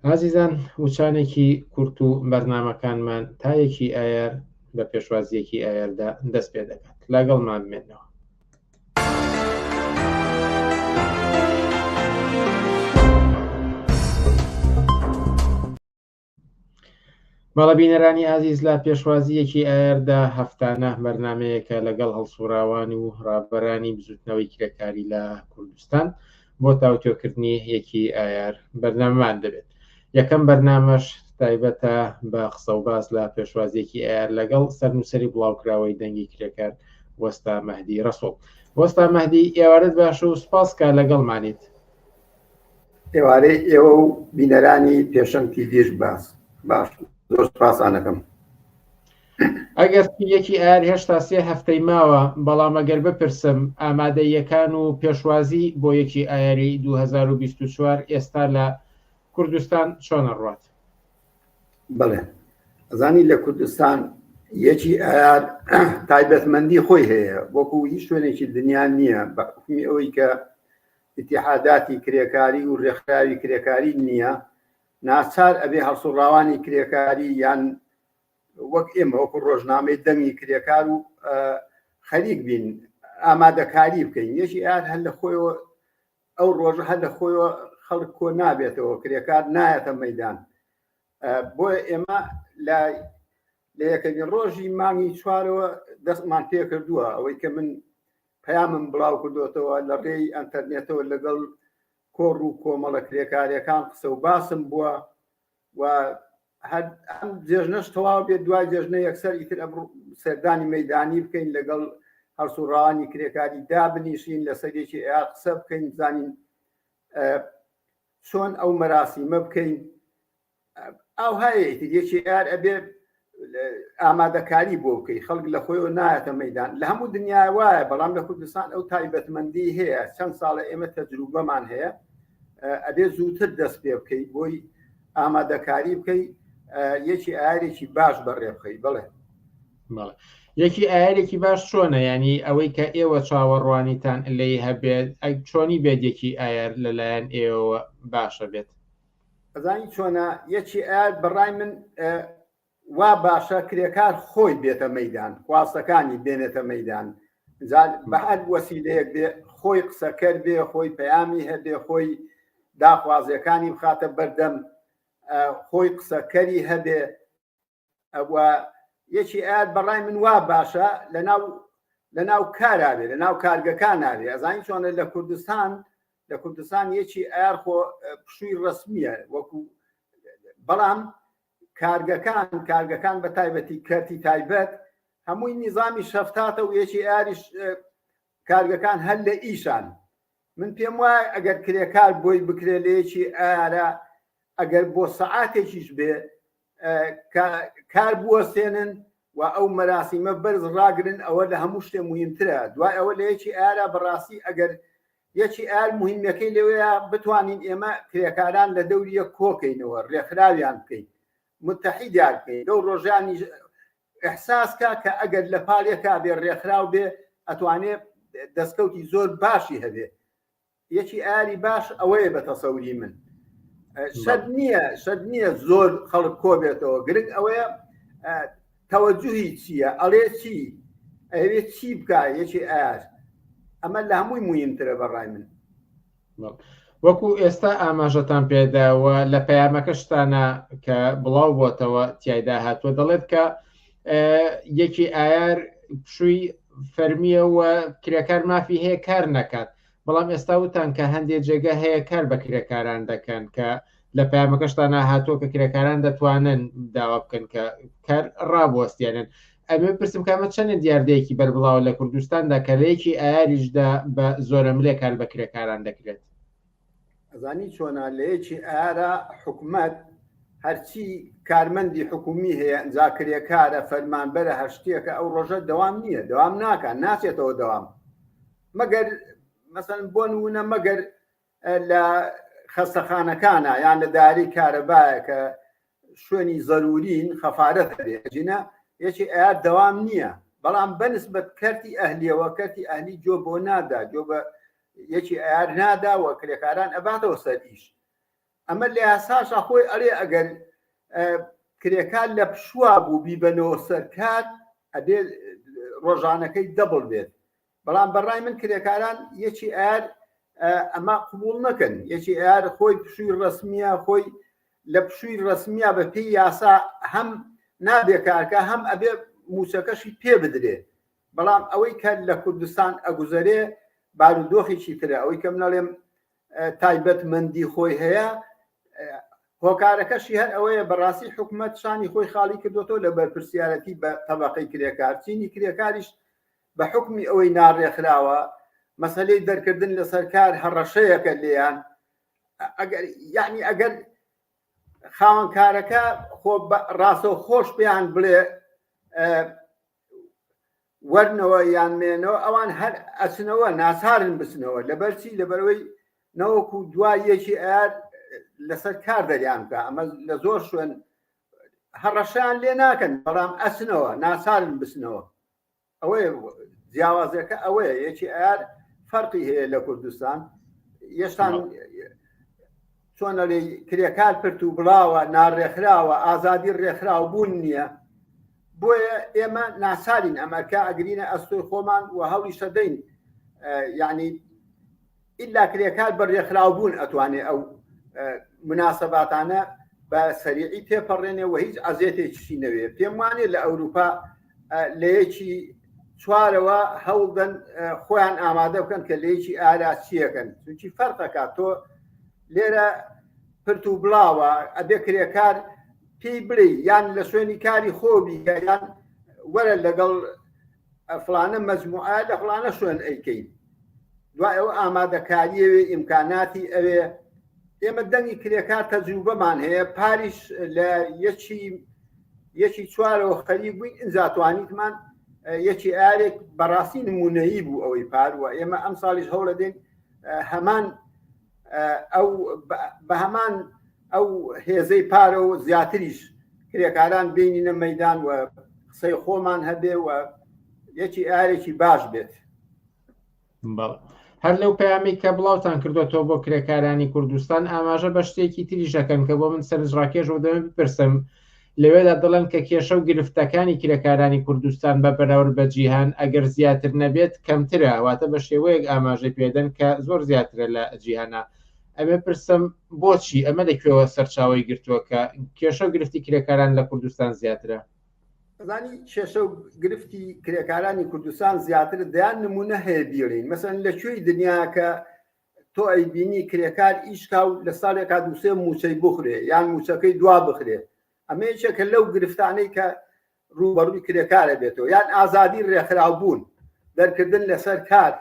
ئازیزان وچانێکی کورت و بەرنامەکانمان تایەکی ئایار بە پێشوازیەکی ئایاردا دەست پێ دەکات لاگەڵمان بمێنەوە بەڵە بینەرانی ئازیز لە پێشوازیەکی ئایاردا هەفتانە بەرنمەیەکە لەگەڵ هەڵسوڕاوان و ڕابەرانی بزوتنەوەی کرێکاری لە کوردستان بۆ تاوتۆکردنی یەکی ئایار بەرنامەمان دەبێت یەکەم بەرنامەش تایبەتە بە قسە و باس لە پێشوازیەکی ئایار لەگەڵ سەرنووسری بڵاوکراوەی دەنگی کرێکار وەستا مەهدی ڕسوڵ وەستا مەهدی ئێوارت باش و سپاس کا لەگەڵمانیت ئێوارەی ئێوە و بینەرانی پێشەم تیڤش باس باش زۆر سپاسانەکەم ئەگەرچی یەکی ئایار هێشتا سێ هەفتەی ماوە، بەڵام ئەگەر بپرسم ئامادەییەکان و پێشوازی بۆ یەکی ئایاری دوو هەزار و بیست و چوار ئێستا لە کوردستان چۆنە ڕوات؟ بەڵێ ئەزانی لە کوردستان یەکی ئایار تایبەتمەندی خۆی هەیە وەکو هیچ شوێنێکی دنیا نییە بە حکمی ئەوەی کە اتحاداتی کرێکاری و ڕێکخراوی کرێکاری نییە ناچار ئەبێ هەڵسوڕاوانی کرێکاری یان وەک ئێمە وەکو ڕۆژنامەی دەنگی کرێکار و خەریک بین ئامادەکاری بکەین یەکی ئار هەر لە خۆیەوە ئەو ڕۆژە هەر لە خۆیەوە خەڵک کۆ نابێتەوە کرێکار نایەتە مەدان بۆیە ئێمە لە لە یەکەمین ڕۆژی مانگی چوارەوە دەستمان پێ کردووە ئەوەی کە من پەیامم بڵاو کردوێتەوە لە ڕێی ئەتەرنێتەوە لەگەڵ کۆڕ و کۆمەڵە کرێکارەکان قسە و باسم بووە و هەر ئەم جێژنەش تەواو بێت دوای جێژنە یەکسەر ئیتر سەردانی مەدانی بکەین لەگەڵ هەرسوڕانی کرێکاری دابنیشین لە سەرێکی ئەیا قسە بکەین بزانین چۆن ئەو مەراسیمە بکەین ئاوهایەکی یەکی ئار ئەبێ ئامادەکاری بۆ بکەی خەڵک لە خۆیەوە نایەتە مەدان لە هەموو دنیا وایە بەڵام لە کوردستان ئەو تایبەتمەندی هەیە چەند ساڵە ئێمە تەجروبەمان هەیە ئەبێ زووتر دەست پێ بکەیت بۆی ئامادەکاری بکەی یەکی ئارێکی باش بەڕێ بخەی بڵێ یەکی ئارێکی باش چۆنە ینی ئەوەی کە ئێوە چاوەڕوانیتان لی هەبێت ئەگ چۆنی بێت یەکی ئایار لەلایەن ئێوە باشە بێت ئەزانی چۆنە یەکی ئاەت بەڕای من وا باشە کرێکار خۆی بێتە مەدان خواستەکانی بێنێتە مەدان بەهر وەسیلەیەک بێ خۆی قسەکەر بێ خۆی پەیامی هەبێ خۆی داخوازیەکانی بخاتە بەردەم خۆی قسەکەری هەبێ یەکی ئاات بەڕای من وا باشە لەناو لەناو کاراێ لە ناو کارگەکان ناێ ئەزانین چۆنە لە کوردستان لە کوردستان یەکی ئار خۆ پشووی ڕسمیە وەکو بەڵام کارگەکان کارگەکان بە تایبەتی کەرتی تایبەت هەمووی نیزامی شەفتاتە و یەکی ئاریش کارگەکان هەر لە ئیشان. من پێم وایە ئەگەر کرێکار بۆی بکرێ لە یەکی ئەیارە ئەگەر بۆ سەعاتێکیش بێ کار بوەستێنن و ئەو مەراسیمە بەرز ڕاگرن ئەوە لە هەموو شتێ مهمترە دوای ئەوە لە یەکی ئارا بەڕاستی ئەگەر یەکی ئار مهمەکەی لەوەیە بتوانین ئێمە کرێکاران لە دەوریە کۆکەینەوە ڕێکخراویان بکەین متحیدیان بکەین لەو ڕۆژانی احساس کا کە ئەگەر لە پاڵ یەکا بێ ڕێکخراو بێ ئەتوانێ دەسکەوتی زۆر باشی هەبێ یەکی ئاری باش ئەوەیە بە تەسەوری من شەد نییە شەد نییە زۆر خەڵک کۆ بێتەوە گرنگ ئەوەیە تەوەجوهی چییە ئەڵێ چی ئەوێ چی بکە یەکی ئار ئەمە لە هەمووی مویمترە بەڕای من وەکو ئێستا ئاماژەتان پێداوە لە پەیامەکەشتانە کە بڵاو بۆتەوە تایدا هاتووە دەڵێت کە یەکی ئایار پشووی فەرمیە و کرێکار مافی هەیە کار نەکات بەڵام ئێستا وتان کە هەندێک جێگە هەیە کار بە کرێکاران دەکەن کە لە پامەکەشتان هاتووە کە کرێکاران دەتوانن داوا بکەن کە کار ڕابوەستێنن ئەمە پرسم کامە چەندە دیاردەیەکی بەربڵاوە لە کوردستاندا کە لەیەکی ئاریشدا بە زۆرەملێ کار بە کرێکاران دەکرێت ئەزانی چۆنا لەیەکی ئارا حکومت هەرچی کارمەندی حکومی هەیە ئەجا کرێکارە فەرمانبەرە هەشتێکە ئەو ڕۆژە دەوام نییە دەوام ناکە ناچێتەوە دەوام مەگەر مەسەن بۆن وونە مەگەر لە خەستەخانەکانە یان لە داری کارەبایە کە شوێنی زەرورین خەفارەت بێجینە یەکی ئەیار دەوام نییە بەڵام بەنسبەت کەرتی ئەهلیەوە کەرتی ئەهلی جۆ بۆ نادا جۆ بە یەکی ئەیار ناداوە کرێکاران ئەباتەوە سەر ئیش ئەمە لە یاساشا خۆی ئەرێ ئەگەر کرێکار لە پشووا بوو بیبەنەوە سەرکات ئەبێ ڕۆژانەکەی دەبڵ بێت بەڵام بە ڕای من کرێکاران یەکی ئار ئەمە قبول نەکەن یەکی ئار خۆی پشووی ڕسمیە خۆی لە پشووی ڕسمیە بە پێی یاسا هەم نابێ کارکە هەم ئەبێ موچەکەشی پێ بدرێ بەڵام ئەوەی کە لە کوردستان ئەگوزەرێ بارودۆخێکی ترە ئەوەی کەم نەڵێم تایبەت مندی خۆی هەیە هۆکارەکەشی هەر ئەوەیە بەڕاستی حکوومەت شانی خۆی خاڵی کردوەوە لە بەرپرسیارەتی بە تەبقەی کرێکار چینی کرێکاریش بە حوکمی ئەوەی ناڕێکخراوە مەسەلەی دەرکردن لەسەر کار هەڕەشەیەکە لێیان ئەگەر یعنی ئەگەر خاوەنکارەکە خۆ ڕاستە خۆش پێیان بڵێ وەرنەوە یان مێنەوە ئەوان هەر ئەچنەوە ناسارن بچنەوە لەبەرچی لەبەرەوەی نەوەکو دوا یەکی ئار لەسەر کار دەریان بکە ئەمە لە زۆر شوێن هەڕەشان لێ ناکەن بەڵام ئەچنەوە ناسارن بچنەوە ئەوەیە جیاوازەکە ئەوەیە یەکی ئار فەرقی هەیە لە کوردستان یەشتان چۆنەلی کرێکار پرت و بڵاوە ناڕێکخراوە ئازادی ڕێکخراو بوون نییە بۆیە ئێمە ناسارین ئەمەکە ئەگرینە ئەستۆی خۆمان و هەڵی شەدەین یعنی ئیلا کرێکار بە رێکخراوبوون ئەتوانێ ئەو مناسەباتانە بە سەریعی تێپەڕێنێ و هیچ عزیێتێکیشی نەوێ پێم وانێ لە ئەوروپا لەیەکی چوارەوە هەوڵدەن خۆیان ئامادە بکەن کە لەیەکی ئاراچیەکەن چونکی فەرقەکە تۆ لێرە پرت و بڵاوە ئەبێ کرێکار پێی بڵێ یان لە شوێنی کاری خۆبی یان وەرە لەگەڵ فڵانە مەجموعە لە فڵانە شوێن ئەیکەین دوای ئەو ئامادەکاریەوێ ئیمکاناتی ئەوێ ئێمە دەنگی کرێکار تەجروبەمان هەیە پاریش لە یەکی یەکی چوارەوە خەری بووین ئینجاتوانیتمان یەکی ئارێک بەڕاستی نمونەیی بوو ئەوەی پار و ئێمە ئەم ساڵیش هەوڵە دێن هەمان ئەو بەهمان ئەو هێزەی پارە و زیاتریش کرێکاران بینینە مەدان و قسەی خۆمان هەبێ و یەکی ئارێکی باش بێت هەر لەو پامی کە بڵاوتان کردوەوە بۆ کرێکارانی کوردستان ئاماژە بە شتێکی تریژەکەن کە بۆ من سەرنجڕاکێش و دەم بپرسم لەوێدا دەڵێن کە کێشە و گرفتەکانی کرێکارانی کوردستان بە بەراورد بە جیهان ئەگەر زیاتر نەبێت کەمترە، واتە بە شێوەیەک ئاماژەی پێدەن کە زۆر زیاترە لە جیهانا. ئەمێ پرسم بۆچی؟ ئەمە لە کوێوە سەرچاوەی گرتووە کە کێشە و گرفتی کرێکاران لە کوردستان زیاترە؟ زانی کێشە و گرفتی کرێکارانی کوردستان زیاتر دەیان نمونە هەیە بیڵین مەسەن لە کوێی دنیا کە تۆ ئەی بینی کرێکار ئیشکا و لە ساڵێکا دووسێ موچەی بخورێ یان موچەکەی دوا بخرێ ئەمە یەکێکە لەو گرفتانەی کە ڕوبەڕووی کرێکارە بێتەوە یان ئازادی ڕێکخراو بوون دەرکردن لەسەر کار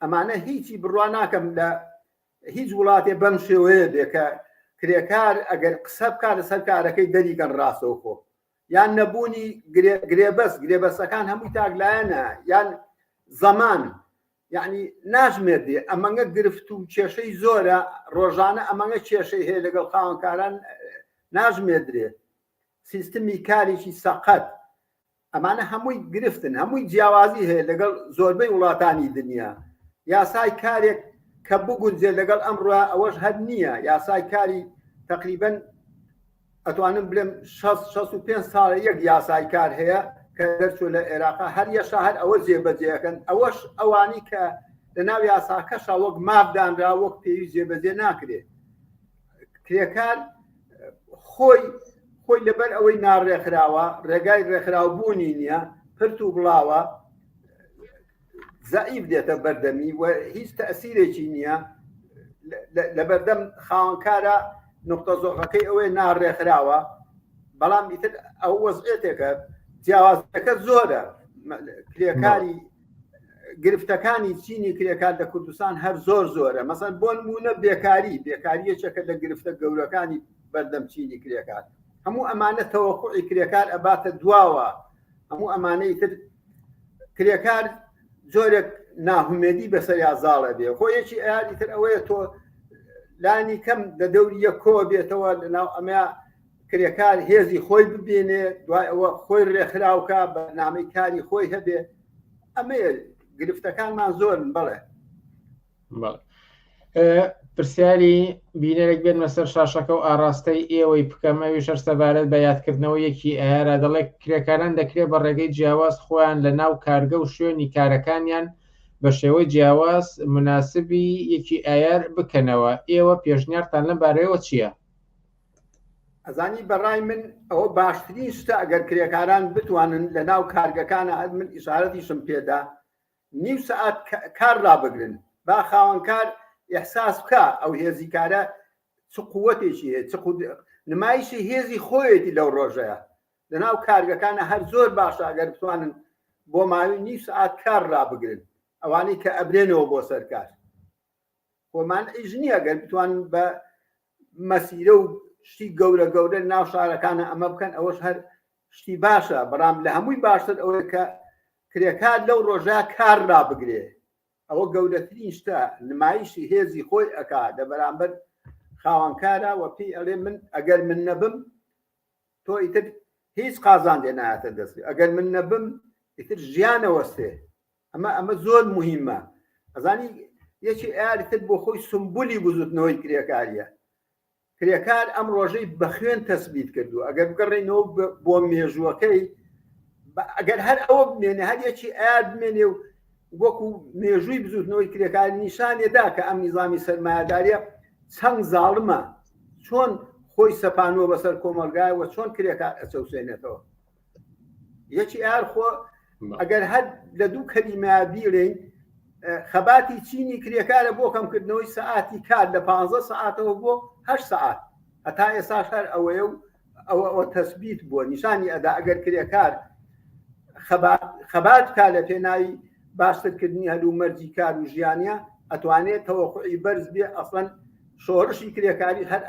ئەمانە هیچی بڕوا ناکەم لە هیچ وڵاتێ بەم شێوەیە بێ کە کرێکار ئەگەر قسە بکات لەسەر کارەکەی دەریگەن ڕاستەوە خۆ یان نەبوونی گرێبەست گرێبەستەکان هەمووی تاکلایەنە یان زەمان یەعنی ناژمێردی ئەمەنگە گرفت و کێشەی زۆرە ڕۆژانە ئەمەنگە کێشەی هەیە لەگەڵ خاوەنکاران ناژمێدرێت سیستمی کارێکی سەقەت ئەمانە هەمووی گرفتن هەمووی جیاوازی هەیە لەگەڵ زۆربەی وڵاتانی دنیا یاسای کارێک کە بگونجێت لەگەڵ ئەمڕە ئەوەش هەر نییە یاسای کاری تقریبن ئەتوانم بلێم شەست شەست و پێنج ساڵە یەک یاسای کار هەیە کە دەرچوو لە عێراقا هەر یەشا هەر ئەوە جێبەجێەکەن ئەوەش ئەوانی کە لە ناو یاساکەشا وەک مابدانرا وەک پێوی جێبەجێ ناکرێت کرێکار خۆی خۆی لەبەر ئەوەی ناڕێکخراوە ڕێگای ڕێکخراو بوونی نییە پرت و بڵاوە زەعیف دێتە بەردەمی و هیچ تەسیرێکی نییە لەبەردەم خاوەنکارە نقطە زۆغەکەی ئەوەی ناڕێکخراوە بەڵام ئیتر ئەو وەزعێتێکە جیاوازەکە زۆرە کرێکاری گرفتەکانی چینی کرێکار لە کوردستان هەر زۆر زۆرە مەسەر بۆ نمونە بێکاری بێکاریەکە لە گرفتە گەورەکانی بەردەم چینی کرێکار هەموو ئەمانە تەوەقعی کرێکار ئەباتە دواوە هەموو ئەمانەی تر کرێکار زۆرێک ناهومێدی بەسەریا زاڵە بێ خۆ یەکی ئەیادی تر ئەوەیە تۆ لانی کەم لە دەوریە کۆ بێتەوە لە ناو ئەمە کرێکار هێزی خۆی ببینێ دوای ئەوە خۆی ڕێکخراوکە بەنامەی کاری خۆی هەبێ ئەمە گرفتەکانمان زۆرن بڵێ پرسیاری بینەرێک بێنمە سەر شاشەکە و ئاراستەی ئێوەی بکەمەوی شەر سەبارەت بە یادکردنەوە یەکی ئارا دەڵێک کرێکاران دەکرێت بە ڕێگەی جیاواز خۆیان لە ناو کارگە و شوێنی کارەکانیان بە شێوەی جیاواز مناسبی یەکی ئایار بکەنەوە ئێوە پێشنیارتان لەم بارەیەوە چییە؟ ئەزانی بەڕای من ئەوە باشترین شتە ئەگەر کرێکاران بتوانن لە ناو کارگەکانە من ئیشارەتیشم پێدا نیو سەعات کار ڕابگرن با خاوەنکار ئیحساس بکا ئەو هێزی کارە چ قووەتێکی هەیە چ قود- نمایشی هێزی خۆیەتی لەو ڕۆژەیە لەناو کارگەکانە هەر زۆر باشە ئەگەر بتوانن بۆ ماوەی نیو سەعات کار ڕابگرن ئەوانەی کە ئەبرێنەوە بۆ سەر کار خۆمان ئیش نییە گەر بتوانن بە مەسیرە و شتی گەورە گەورە ناو شارەکانە ئەمە بکەن ئەوەش هەر شتی باشە بەڵام لە هەمووی باشتر ئەوەیە کە کرێکار لەو ڕۆژە کار ڕابگرێ ئەوە گەورەترین شتە نمایشی هێزی خۆی ئەک لە بەرامبەر خاوەنکارە وە پێی ئەڵێ من ئەگەر من نەبم تۆ ئیتر هیچ قازانجێ نایەتە دەست ئەگەر من نەبم ئیتر ژیانە وەستێ ئەمە ئەمە زۆر مهمە ئەزانی یەکی ئارتر بۆ خۆی سمبولی بزوتنەوەی کرێکاریە کرێکار ئەم ڕۆژەی بە خوێن تەسبیت کردو ئەگەر بگەڕێنەوە بۆ مێژووەکەی ئەگەر هەر ئەوە بمێنێ هەر یەکی ئار بمێنێ و وەکو مێژووی بزوتنەوەی کرێکاری نیشانێدا کە ئەم نیزامی سەرمایهداریە چەند زاڵمە چۆن خۆی سەپانەوە بەسەر کۆمەلگای وە چۆن کرێکار ئەچەوسێنێتەوە یەکی ئار خۆ ئەگەر هەر لە دوو کەلیمە بیرین خەباتی چینی کرێکارە بۆ کەمکردنەوەی سەعاتی کار لە 15 ساعتەوە بۆ هە ساعت هەتا ئێساش هەر ئەوەیە و ئەوە ئەوە تەسبیت بووە نیشانی ئەدا ئەگەر کرێکار خەبات کا لە پێناوی باشترکردنی هەلو مەرجی کار و ژیانە ئەتوانێت تەوەخی بەرز بێ ئەسڵەن شۆڕشی کرێکاری هەر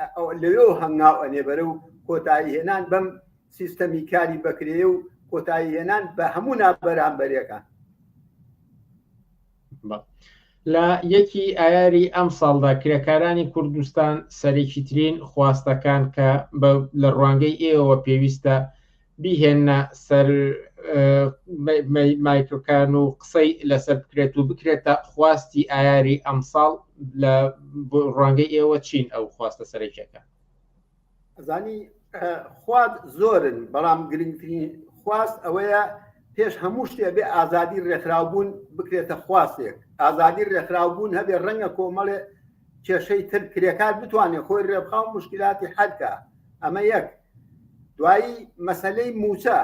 لەوێ هەنگاو ئەنێ بەرە و کۆتایی هێنان بەم سیستەمی کاری بەکرێ و کۆتایی هێنان بە هەموو نابەرامبەرەکان لە یەکی ئایاری ئەم ساڵدا کرێکارانی کوردستان سەرێکی ترین خواستەکان کە لە ڕوانگەی ئێوە پێویستە بیهێنە سەر مایکرۆکان و قسەی لەسەر بکرێت و بکرێتە خواستی ئایاری ئەمساڵ لە ڕوانگەی ئێوە چین ئەو خواستە سەرەکیەکە ئەزانی خوارد زۆرن بەڵام گرنگترین خواست ئەوەیە پێش هەموو شتێ بێ ئازادی ڕێکخراو بوون بکرێتە خواستێک ئازادی ڕێکخراو بوون هەبێ ڕەنگە کۆمەڵێ کێشەی تر کرێکار بتوانێت خۆی ڕێبخاو مشکلاتی حەلکە ئەمە یەک دوایی مەسلەی موچە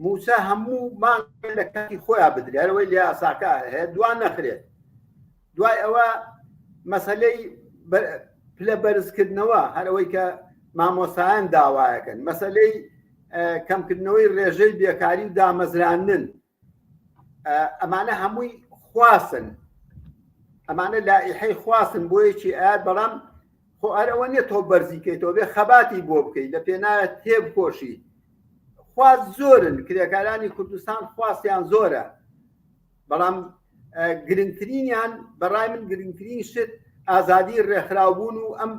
موچە هەموو مان لە کاتی خۆیان بدرێتەوەی لە یاساکە هەیە دوان نەخرێت دوای ئەوە مەسلەی پلە بەرزکردنەوە هەرەوەی کە مامۆسایان داوایەکەن مەسلەی کەمکردنەوەی ڕێژەی بێکاری و دامەزراندن ئەمانە هەمووی خواستن ئەمانە لائحی خواستن بۆیەکی ئایا بەڵام خۆ ئەرەوە نیە تۆ بەرزیکەیتەوە بێ خەباتی بۆ بکەیت لە پێناە تێب کۆشی خواست زۆرن کرێکارانی کوردستان خواستیان زۆرە بەڵام گرنگترینیان بەڕای من گرنگترین شت ئازادی ڕێکخراوبوون و ئەم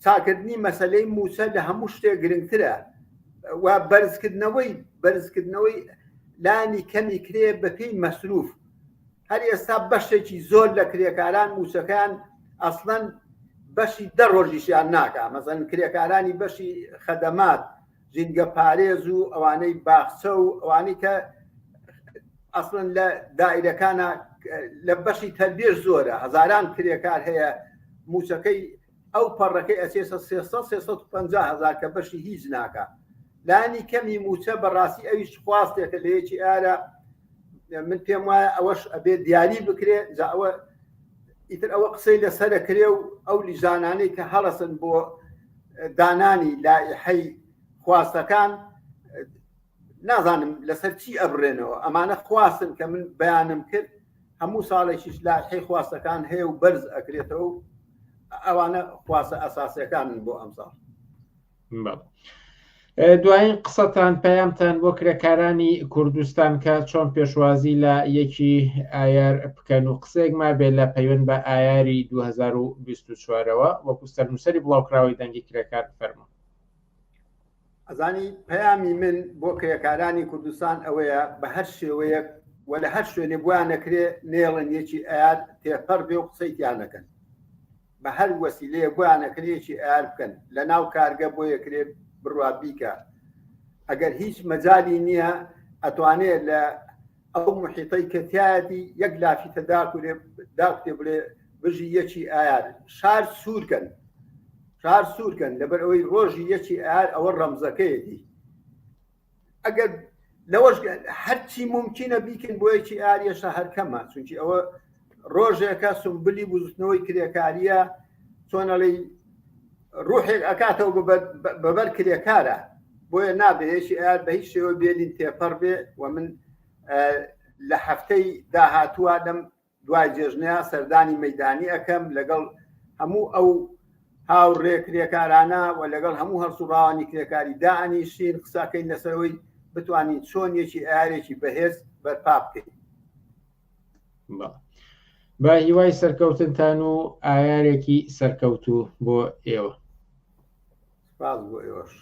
چاکردنی مەسلەی موچە لە هەموو شتێک گرنگترە و بەرزکردنەوەی بەرزکردنەوەی لانی کەمی کرێ بەپی مەسروف هەر ئێستا بەشێکی زۆر لە کرێکاران موچەکان ئەسڵەن بەشی دە ڕۆژیشیان ناکە مەزەن کرێکارانی بەشی خەدەمات ژینگە پارێز و ئەوانەی باخچە و ئەوانی کە ئەسڵن لە دایرەکانە لە بەشی تەربێش زۆرە هەزاران کرێکار هەیە موچەکەی ئەو پەڕەکەی ئەسێسە 350 هزار کە بەشی هیچ ناکە لانی کەمی موچە بەڕاستی ئەویش خواستێکە لەیەکی ئارە من پێم وایە ئەوەش ئەبێ دیاری بکرێ جا ئەوە ئیتر ئەوە قسەی لەسرە کرێ و ئەو لیژانانەی کە هەڵەسن بۆ دانانی لایحەی خواستەکان نازانم لەسەر چی ئەبرێنەوە ئەمانە خواستن کە من بەیانم کرد هەموو ساڵێکیش لایحەی خواستەکان هەیە و بەرز ئەکرێتەوە ئەوانە خواسە ئەساسەکانن بۆ ئەمساڵ دوایین قسەتان پەیامتان بۆ کرێکارانی کوردستان کە چۆن پێشوازی لە یەکی ئایار بکەن و قسێک ما بێت لە پەیوەند بە ئایاری 2024ەوە وەکو سەرنووسری بڵاوکراوەی دەنگی کرێکار فەرمە ئەزانی پەیامی من بۆ کرێکارانی کوردستان ئەوەیە بە هەر شێوەیەک و لە هەر شوێنێ بووە نەکرێ نێڵن یەکی ئاات تێپەر بێ و قسەیتیان نەکەن بە هەر وەسیلەیە بۆیان ئەکرێکی ئار بکەن لە ناو کارگە بۆ یەکرێ بڕوا بیکە ئەگەر هیچ مەجای نییە ئەتوانێ لە ئەو محیتەی کەتیایەتی یەک لافیتە داکورێ داکتێ بڵێ بژی یەکی ئایار شار سوورکەن شار سوورکەن لەبەر ئەوەی ڕۆژی یەکی ئار ئەوە ڕەمزەکەیەتی ئەگەر لەوەش هەرچی ممکنە بیکن بۆیەکی ئاریەشە هەرکەمە چونکی ئەوە ڕۆژێکە سمبلی بزوتنەوەی کرێکاریە چۆنەڵی ڕوحێک ئەکاتەوە بەبەر کرێکارە بۆیە نابێشی ئار بە هیچ شێوە بێلین تێپەڕ بێ و من لە هەفتەی داهاتووە لەم دوای جێژنەیە سەردانی مەدانی ئەەکەم لەگەڵ هەموو ئەو هاوڕێ کرێکارانە و لەگەڵ هەموو هەڵسوڕاوانی کرێکاری دانیشین قساکەین لەسەرەوەی بتوانین چۆن یەکی ئارێکی بەهێز بەرپا بکەین بە هیوای سەرکەوتنتان و ئایارێکی سەرکەوتوو بۆ ئێوە سپاس بۆ ئێوەش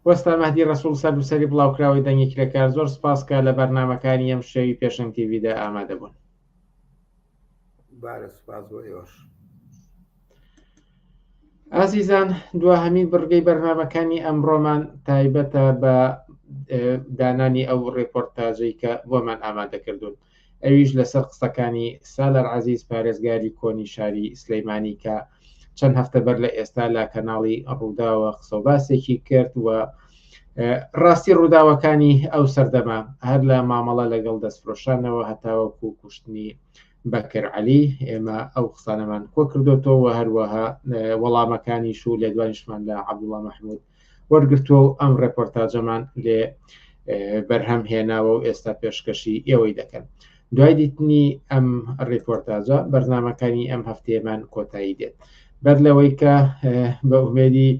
وەستا مەهدی ڕسوول سەر بسەری بڵاوکراوەی دەنگی کرێکار زۆر سپاسکە لە بەرنمەکانی ئەم شەوی پێشنگ تیویدا ئامادە بوون بارە سپاس بۆ ئێوەش ئازیزان دواهەمین بڕگەی بەرنمەکانی ئەمڕۆمان تایبەتە بە دانانی ئەو ڕێپۆرتاجەی کە بۆمان ئامادەکردوون ئەویش لەسەر قسەکانی سالار عەزیز پارێزگاری کۆنی شاری سلیمانی کە چەند هەفتە بەر لە ئێستا لە کەناڵی ڕووداوە قسەباسێکی کرد و ڕاستی ڕووداوەکانی ئەو سەردەما هەر لە مامەڵە لەگەڵ دەستفرۆشانەوە هەتاوەکو کوشتنی بەکر علی ئێمە ئەو قسانەمان کۆ کردوەوە هەروەها وەڵامەکانی شو لێدوانیشمان لە عبدوڵە مححمود وەرگرتووە و ئەم ڕێپۆرتاجەمان لێ بەرهەم هێناوە و ئێستا پێشکەشی ئێوەی دەکەن دوای دیتنی ئەم ڕێپۆرتاجە بەرنمەکانی ئەم هەفتەیەمان کۆتایی دێت بەر لەوەی کە بە ئومێدی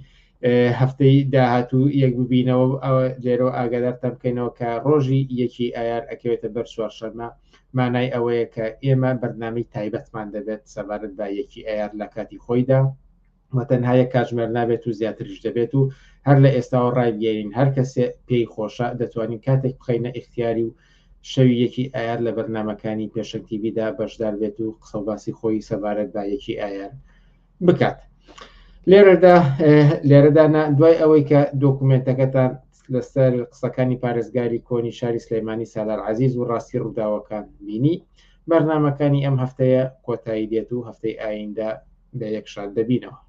هەفتەی داهاتوو یەک ببینەوە لێرە ئاگادارتان بکەینەوە کە ڕۆژی یەکی ئایار ئەکەوێتە بەر چوارشەمە مانای ئەوەیە کە ئێمە بەرنامی تایبەتمان دەبێت سەبارەت بە یەکی ئایار لە کاتی خۆیدا و تەنها یەک کاتژمێر نابێت و زیاتریش دەبێت و هەر لە ئێستاوە ڕایبگەێنین هەر کەسێ پێی خۆشە دەتوانین کاتێک بخینە ئختیاری و شەوی یەکی ئایار لە بەرنمەکانی پێشەکتیبیدا بەشدار بێت و قسەڵباسی خۆی سەبارەت بە یەکی ئایار بکات لێرەدا لێرەدانا دوای ئەوەی کە دۆکومنتەکەتان لەسەر قسەکانی پارێزگاری کۆنی شاری سلەیمانی سالار عزیز و ڕاستی ڕووداوەکان بینی بەرنمەکانی ئەم هەفتەیە کۆتایی دێت و هەفتەی ئایندە بە یەک شاد دەبینەوە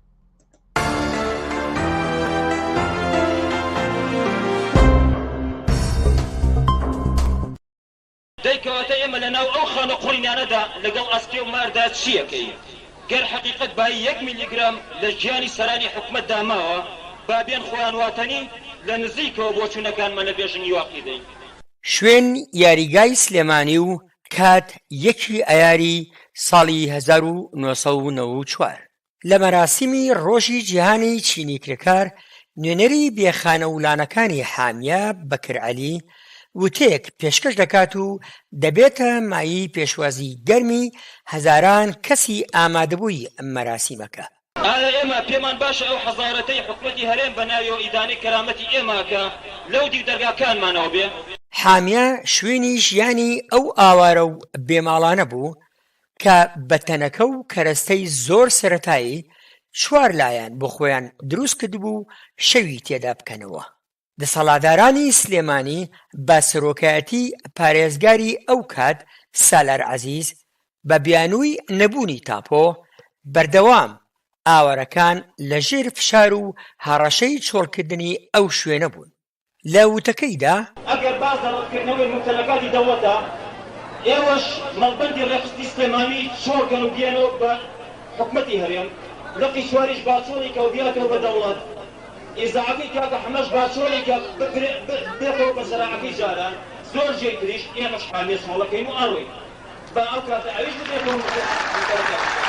دەی کەواتە ئێمە لە ناو ئەو خانە قوڕینانەدا لەگەڵ ئەسپێ و ماردا چی ئەکەین؟ گەر حەقیقەت بایی یەک میلیگرام لە ژیانی سەرانی حکومەتدا ماوە، با بێن خۆیان واتەنی لە نزیکەوە بۆچوونەکانمان لەبێژنگی واقی دەین. شوێن یاریگای سلێمانی و کات یەکی ئایاری ساڵی هەزار و نۆ سەد و نەوە و چوار. لە مەراسیمی ڕۆژی جیهانی چینی کرێکار، نوێنەری بێ خانە و لانەکانی حامیە بەکر عەلی وتەیەک پێشکەش دەکات و دەبێتە مایەی پێشوازی گەرمی هەزاران کەسی ئامادەبووی مەراسیمەکە. ئایا ئێمە پێمان باشە ئەو حەزارەتەی حکومەتی هەرێم بە ناویەوە ئیدانەی کەرامەتی ئێمە ئەکا لەو دیو دەرگاکانمانەوە بێ؟ حامیە شوێنی ژیانی ئەو ئاوارە و بێ ماڵانە بوو، کە بە تەنەکە و کەرەستەی زۆر سەرەتایی چوار لایەن بۆ خۆیان دروست کردبوو و شەوی تێدا بکەنەوە. دەسەڵادارانی سلێمانی بە سەرۆکایەتی پارێزگاری ئەو کات سالار عەزیز بە بیانووی نەبوونی تاپۆ، بەردەوام ئاوارەکان لە ژێر فشار و هەڕەشەی چۆڵکردنی ئەو شوێنە بوون. لە وتەکەیدا، ئەگەر باس لە ڕەتکردنەوەی مومتەلەکاتی دەوڵەتە، ئێوەش مەڵبەندی ڕێکخستنی سلێمانی چۆڵ کەن و بیەنەوە بە حکومەتی هەرێم، لقی چواریش باچۆڵی کە و بیاتەوە بە دەوڵەت، ئیزاعەکەی کاکە حەمەش باچۆڵی کە ببرێ بێتەوە بە زەراعەکەی جاران، زۆر جێی تریش، ئێمەش حامیە چۆڵەکەین و ئەڕۆین. با ئەو کاتە ئەویش ببێ بۆ نووسەرەکەی.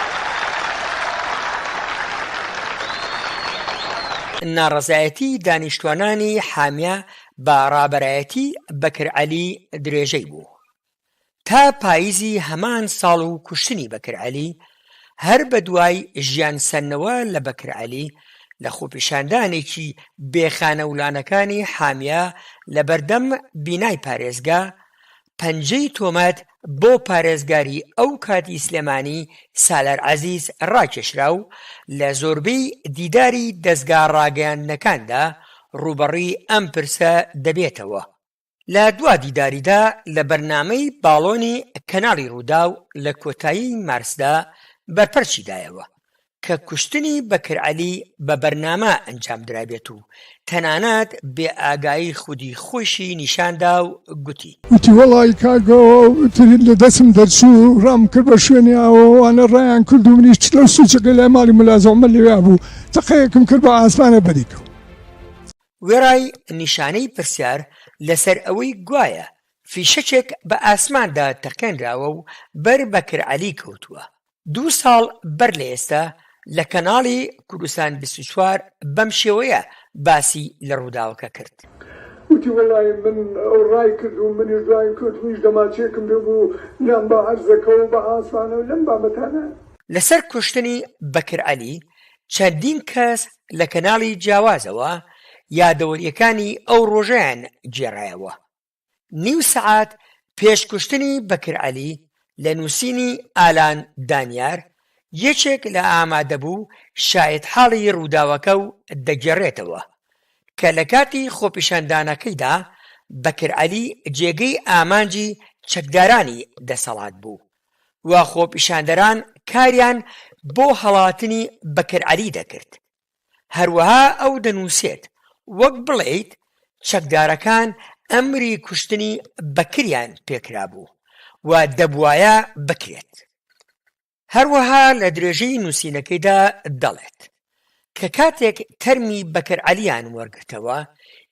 ناڕەزایەتی دانیشتوانانی حامیە بە ڕابەرایەتی بەکر عەلی درێژەی بوو تا پایزی هەمان ساڵ و کوشتنی بەکر عەلی هەر بە دوای ژیان سەندنەوە لە بەکر عەلی لە خۆپیشاندانێکی بێ خانەولانەکانی حامیە لە بەردەم بینای پارێزگا پەنجەی تۆمەت بۆ پارێزگاری ئەو کاتی سلێمانی سالار عەزیز ڕاکێشرا و لە زۆربەی دیداری دەزگا ڕاگەیاندنەکاندا ڕووبەڕووی ئەم پرسە دەبێتەوە. لە دوا دیداریدا لە بەرنامەی باڵۆنی کەناڵی ڕووداو لە کۆتایی مارسدا بەرپەرچی دایەوە کە کوشتنی بەکر عەلی بە بەرنامە ئەنجام درابێت و تەنانەت بێ ئاگایی خودی خۆیشی نیشان دا و گوتی. گوتی وەڵای کاک ئەوە ترین لە دەستم دەرچوو و ڕام کرد بە شوێنی ئاوە، ئەوانە ڕایان کرد و منیش لەو سوچەکەی لای ماڵی مەلا زەومەر لەوێا بوو تەقەیەکم کرد بە ئاسمانە بەری کەوت. وێڕای نیشانەی پرسیار لە سەر ئەوەی گوایە فیشەکێک بە ئاسماندا تەقێنراوە و بەر بەکر عەلی کەوتووە، دوو ساڵ بەر لە ئێستا لە کەناڵی کوردستان بیست و چوار بەم شێوەیە باسی لە ڕووداوەکە کرد. وتی، وەڵای من ئەو ڕای کرد و منیش دوایین کەوت منیش دەماچەیەکم پێ بوو لام بە عەرزەکە و بە عاسمانە و لەم بابەتانە. لەسەر کوشتنی بەکر عەلی چەندین کەس لە کەناڵی جیاوازەوە یادەوەرییەکانی ئەو ڕۆژەیان گێڕایەوە. نیو سەعات پێش کوشتنی بەکر عەلی لە نووسینی ئالان دانیار، یەکێک لە ئامادەبوو شایەتحاڵی رووداوەکە و دەگێڕێتەوە، کە لە کاتی خۆپیشاندانەکەیدا بەکر عەلی جێگەی ئامانجی چەکدارانی دەسەڵات بوو و خۆپیشاندەران کاریان بۆ هەڵاتنی بەکر عەلی دەکرد. هەروەها ئەو دەنووسێت، وەک بڵێیت چەکدارەکان ئەمری کوشتنی بەکریان پێکرابوو و دەبوایە بکرێت. هەروەها لە درێژەی نووسینەکەیدا دەڵێت، کە کاتێک تەرمی بەکر عەلییان وەرگرتەوە،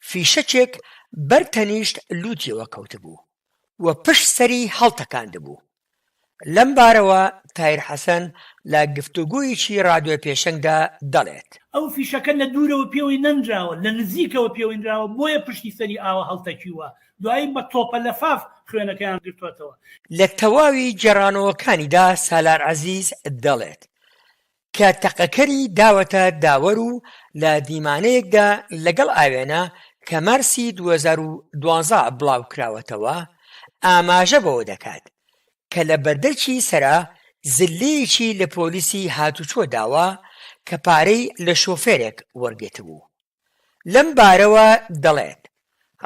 فیشەکێک بەر تەنیشت لووتیەوە کەوتبوو و پشت سەری هەڵتەکاندبوو، لەمبارەوە تایر حەسەن لە گفتوگۆیەکی رادیۆ پێشەنگدا دەڵێت. ئەو فیشەکە لە دوورەوە پێوەی نەنراوە، لە نزیکەوە پێوەی نراوە، بۆیە پشتی سەری ئاوە هەڵتەکیووە، دوایی بە تۆپە لەفاف خوێنەکەیان گرتووەتەوە. لە تەواوی گێڕانەوەکانیدا سالار عەزیز دەڵێت، کە تەقەکەری داوەتە داوەر و لە دیمانەیەکدا لەگەڵ ئاوێنە کە مارسی دوو هەزار و دوازدە بڵاوکراوەتەوە ئاماژە بەوە دەکات کە لە بەردەرکی سەرا زللەیەکی لە پۆلیسی هاتوچۆ داوە کە پارەی لە شۆفێرێک وەرگرتبوو. لەم بارەوە دەڵێت،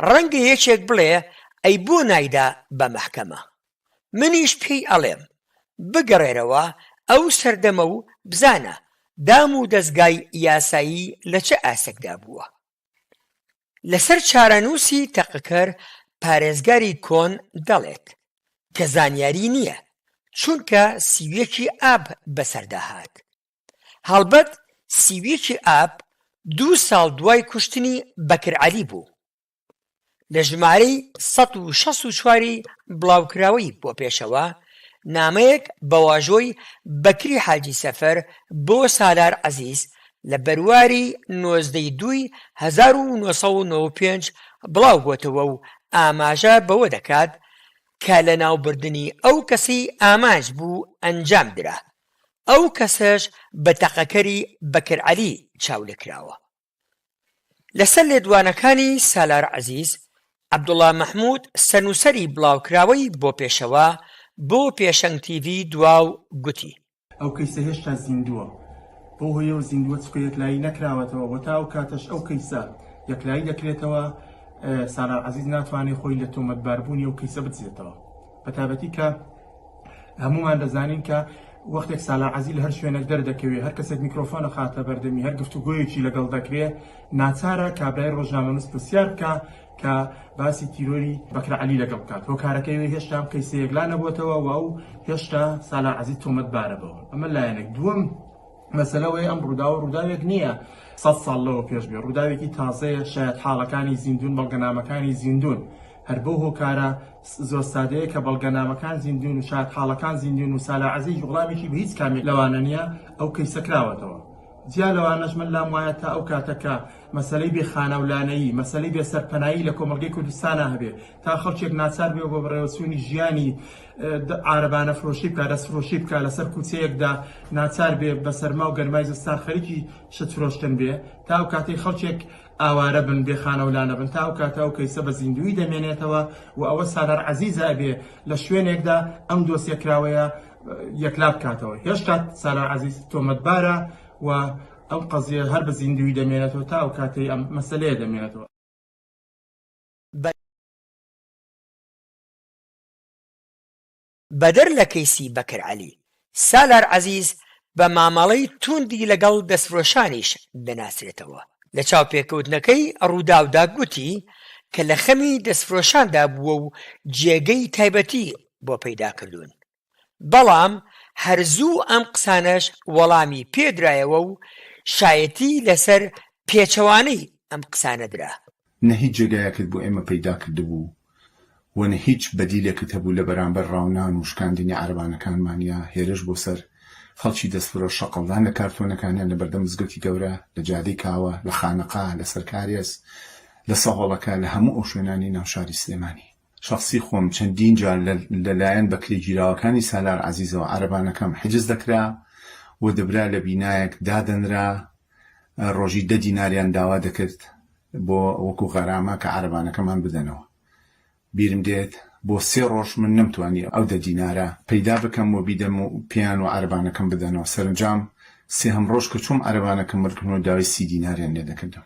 ڕەنگە یەکێک بڵێ ئەی بۆ نایدا بە مەحکەمە؟ منیش پێی ئەڵێم، بگەڕێرەوە ئەو سەردەمە و بزانە دام و دەزگای یاسایی لە چ ئاستێکدا بووە. لەسەر چارەنووسی تەقەکەر پارێزگاری کۆن دەڵێت، کە زانیاری نییە، چونکە سی و یەکی ئاب بەسەردا هات، هەڵبەت سی و یەکی ئاب دوو ساڵ دوای کوشتنی بەکر عەلی بوو لە ژمارەی سەد و شەست و چواری بڵاوکراوەی بۆ پێشەوە نامەیەک بە واژۆی بەکری حاجی سەفەر بۆ سالار عەزیز لە بەرواری نۆزدە ی دووی هەزار و نۆ سەد و نۆ و پێنج بڵاو بۆتەوە و ئاماژە بەوە دەکات کە لەناوبردنی ئەو کەسەی ئامانج بوو ئەنجام درا ئەو کەسەش بە تەقەکەری بەکر عەلی چاولێکراوە. لەسەر لێدوانەکانی سالار عەزیز، عەبدوڵا مەحمود سەرنووسەری بڵاوکراوەی بۆ پێشەوە بۆ پێشەنگ تیڤی دواو گوتی، ئەو کەیسە هێشتا زیندووە بەو هۆیەوە زیندووە چونکە یەکلایی نەکراوەتەوە و تا ئەو کاتەش ئەو کەیسە یەکلایی دەکرێتەوە سالار عەزیز ناتوانێت خۆی لە تۆمەتباربوونی ئەو کەیسە بدزێتەوە. بەتابەتی کە هەموومان دەزانین کە وەختێک سالا عزیز لە هەر شوێنێک دەردەکەوێت هەر کەسێک میکرۆفۆنە خاتە بەردەمی هەر گفتوگویەکی لەگەڵ دەکرێت ناچارە کابرای ڕۆژنامەنووس پرسیار بکە کە باسی تیرۆری بەکرە علی لەگەڵ بکات هۆکارەکەی هێشتا قیسەیەک لا نەبووتەوە و ئەو هێشتا سالا عزیز تۆمەت بارە بەوە ئەمە لایەنێک دووەم مەسلەوەی ئەم ڕووداوە ڕووداوێک نییە سە ساڵ لەوە پێش بێ ڕووداوێکی تازەیە شاید حاڵەکانی زیندون بەڵگەنامەکانی زیندون هەر بەو هۆکارە زۆر سادەیە کە بەڵگەنامەکان زیندوون و شایەتحاڵەکان زیندوون و سالار عەزیز وڵامێکی بە هیچ کامێک لەوانە نییە، ئەو کەیسە کراوەتەوە. جیا لەوانەش من لام وایە تا ئەو کاتە کە مەسەلەی بێ خانە و لانەیی، مەسەلەی بێ سەرپەنایی لە کۆمەڵگەی کوردستانا هەبێ، تا خەڵکێک ناچار بێ بە بەڕێوەچوونی ژیانی عارەبانەفرۆشی بکا، دەستفرۆشی بکا، لەسەر کوچەیەکدا ناچار بێ بە سەرما و گەرمای زستان خەریکی شت فرۆشتن بێ، تا ئەو کاتەی خەڵکێک ئاوارە بن بێ خانەو لانە بن تا ئەو کاتە ئەو کەیسە بە زیندوویی دەمێنێتەوە و ئەوە سالار عەزیزە ئەبێ لە شوێنێکدا ئەم دۆسیە کراوەیە یەکلا بکاتەوە هێشتا سالار عەزیز تۆمەتبارە و ئەم قەزیە هەر بە زیندووی دەمێنێتەوە تا ئەو کاتەی ئەم مەسەلەیە دەمێنێتەوە. بەدەر لە کەیسی بەکر عەلی، سالار عەزیز بە مامەڵەی تووندی لەگەڵ دەستفرۆشانیش دەناسرێتەوە، لە چاوپێکەوتنەکەی رووداودا گوتی کە لە خەمی دەستفرۆشاندا بووە و جێگەی تایبەتی بۆ پەیدا کردوون، بەڵام هەر زوو ئەم قسانەش وەڵامی پێدرایەوە و شایەتی لەسەر پێچەوانەی ئەم قسانە درا. نە هیچ جێگایەکت بۆ ئێمە پەیدا کردبوو و نە هیچ بەدیلێکت هەبوو لە بەرامبەر ڕاونان و شکاندنی عەرەبانەکانمان یا هێرش بۆ سەر خەڵکی دەستفرۆش، شەقڵدان لە کارتۆنەکانیان لە بەردەم مزگەوتی گەورە، لە جادەی کاوە، لە خانەقا، لە سەرکارێز، لە سەهۆڵەکە، لە هەموو ئەو شوێنانەی ناو شاری سلێمانی. شەخسی خۆم چەندین جار لە لایەن بەکرێگیراوەکانی سالار عەزیزەوە عەرەبانەکەم حجز دەکرا و دەبرا لە بینایەک دادەنرا ڕۆژی دە دیناریان داوا دەکرد بۆ وەکو غەرامە کە عەرەبانەکەمان بدەنەوە بیرم دێت بۆ سێ ڕۆژ من نەمتوانی ئەو دە دینارە پەیدا بکەم و بیدەم و پێیان و عەرەبانەکەم بدەنەوە سەرنجام سێهەم ڕۆژ کە چووم عەرەبانەکەم وەرگرتم و داوای سی دیناریان لێ دەکردم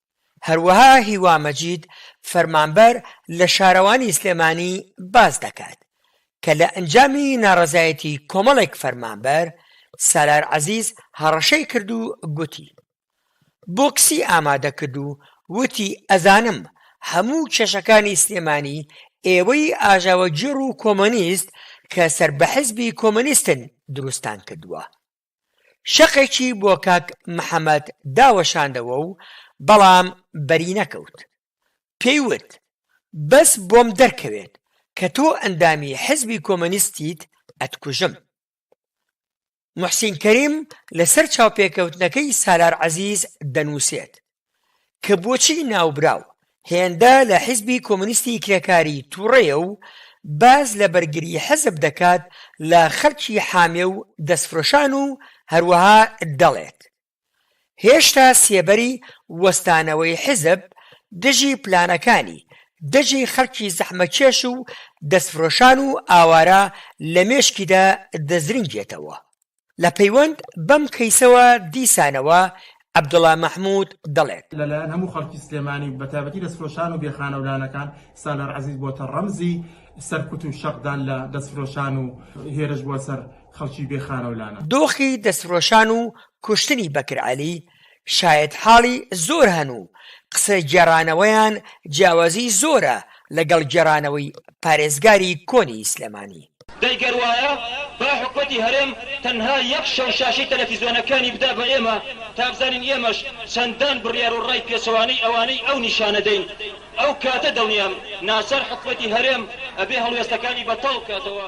هەروەها هیوا مەجید فەرمانبەر لە شارەوانی سلێمانی باس دەکات کە لە ئەنجامی ناڕەزایەتی کۆمەڵێک فەرمانبەر سالار عەزیز هەڕەشەی کرد و گوتی بۆکسی ئامادە کرد و وتی ئەزانم هەموو کێشەکانی سلێمانی ئێوەی ئاژاوەگێڕ و کۆمۆنیست کە سەر بە حزبی کۆمۆنیستن دروستتان کردووە. شەقێکی بۆ کاک محەمەد داوەشاندەوە و بەڵام بەری نەکەوت. پێی وت، بەس بۆم دەرکەوێت کە تۆ ئەندامی حزبی کۆمۆنیستیت ئەتکوژم. موحسین کەریم لەسەر چاوپێکەوتنەکەی سالار عەزیز دەنووسێت، کە بۆچی ناوبراو هێندە لە حیزبی کۆمۆنیستی کرێکاری توڕەیە و باس لە بەرگری حیزب دەکات لە خەلکی حامێ و دەستفرۆشان و هەروەها دەڵێت هێشتا سێبەری وەستانەوەی حیزب دژی پلانەکانی دژی خەلکی زەحمەتکێش و دەستفرۆشان و ئاوارە لە مێشکیدا دەزرینگێتەوە. لە پەیوەند بەم کەیسەوە دیسانەوە عەبدوڵا مەحمود دەڵێت. لەلایەن هەموو خەڵکی سلێمانی و بەتایبەتی دەستفرۆشان و بێ خانەو لانەکان سالار عەزیز بۆتە ڕەمزی سەرکوت و شەقدان لە دەستفرۆشان و هێرش بۆ سەر خەڵکی بێ خانەو لانە. دۆخی دەستفرۆشان و کوشتنی بەکر عەلی شایەتحاڵی زۆر هەن و قسە گێڕانەوەیان جیاوازی زۆرە لەگەڵ گێڕانەوەی پارێزگاری کۆنی سلێمانی. دەی گەر وایە با حکومەتی هەرێم تەنها یەک شەو شاشەی تەلەفیزۆنەکانی بدا بە ئێمە تا بزانین ئێمەش چەندان بڕیار و ڕای پێچەوانەی ئەوانەی ئەو نیشانە دەین ئەو کاتە دڵنیام ناچار حکومەتی هەرێم ئەبێ هەڵوێستەکانی بەتاڵ بکاتەوە.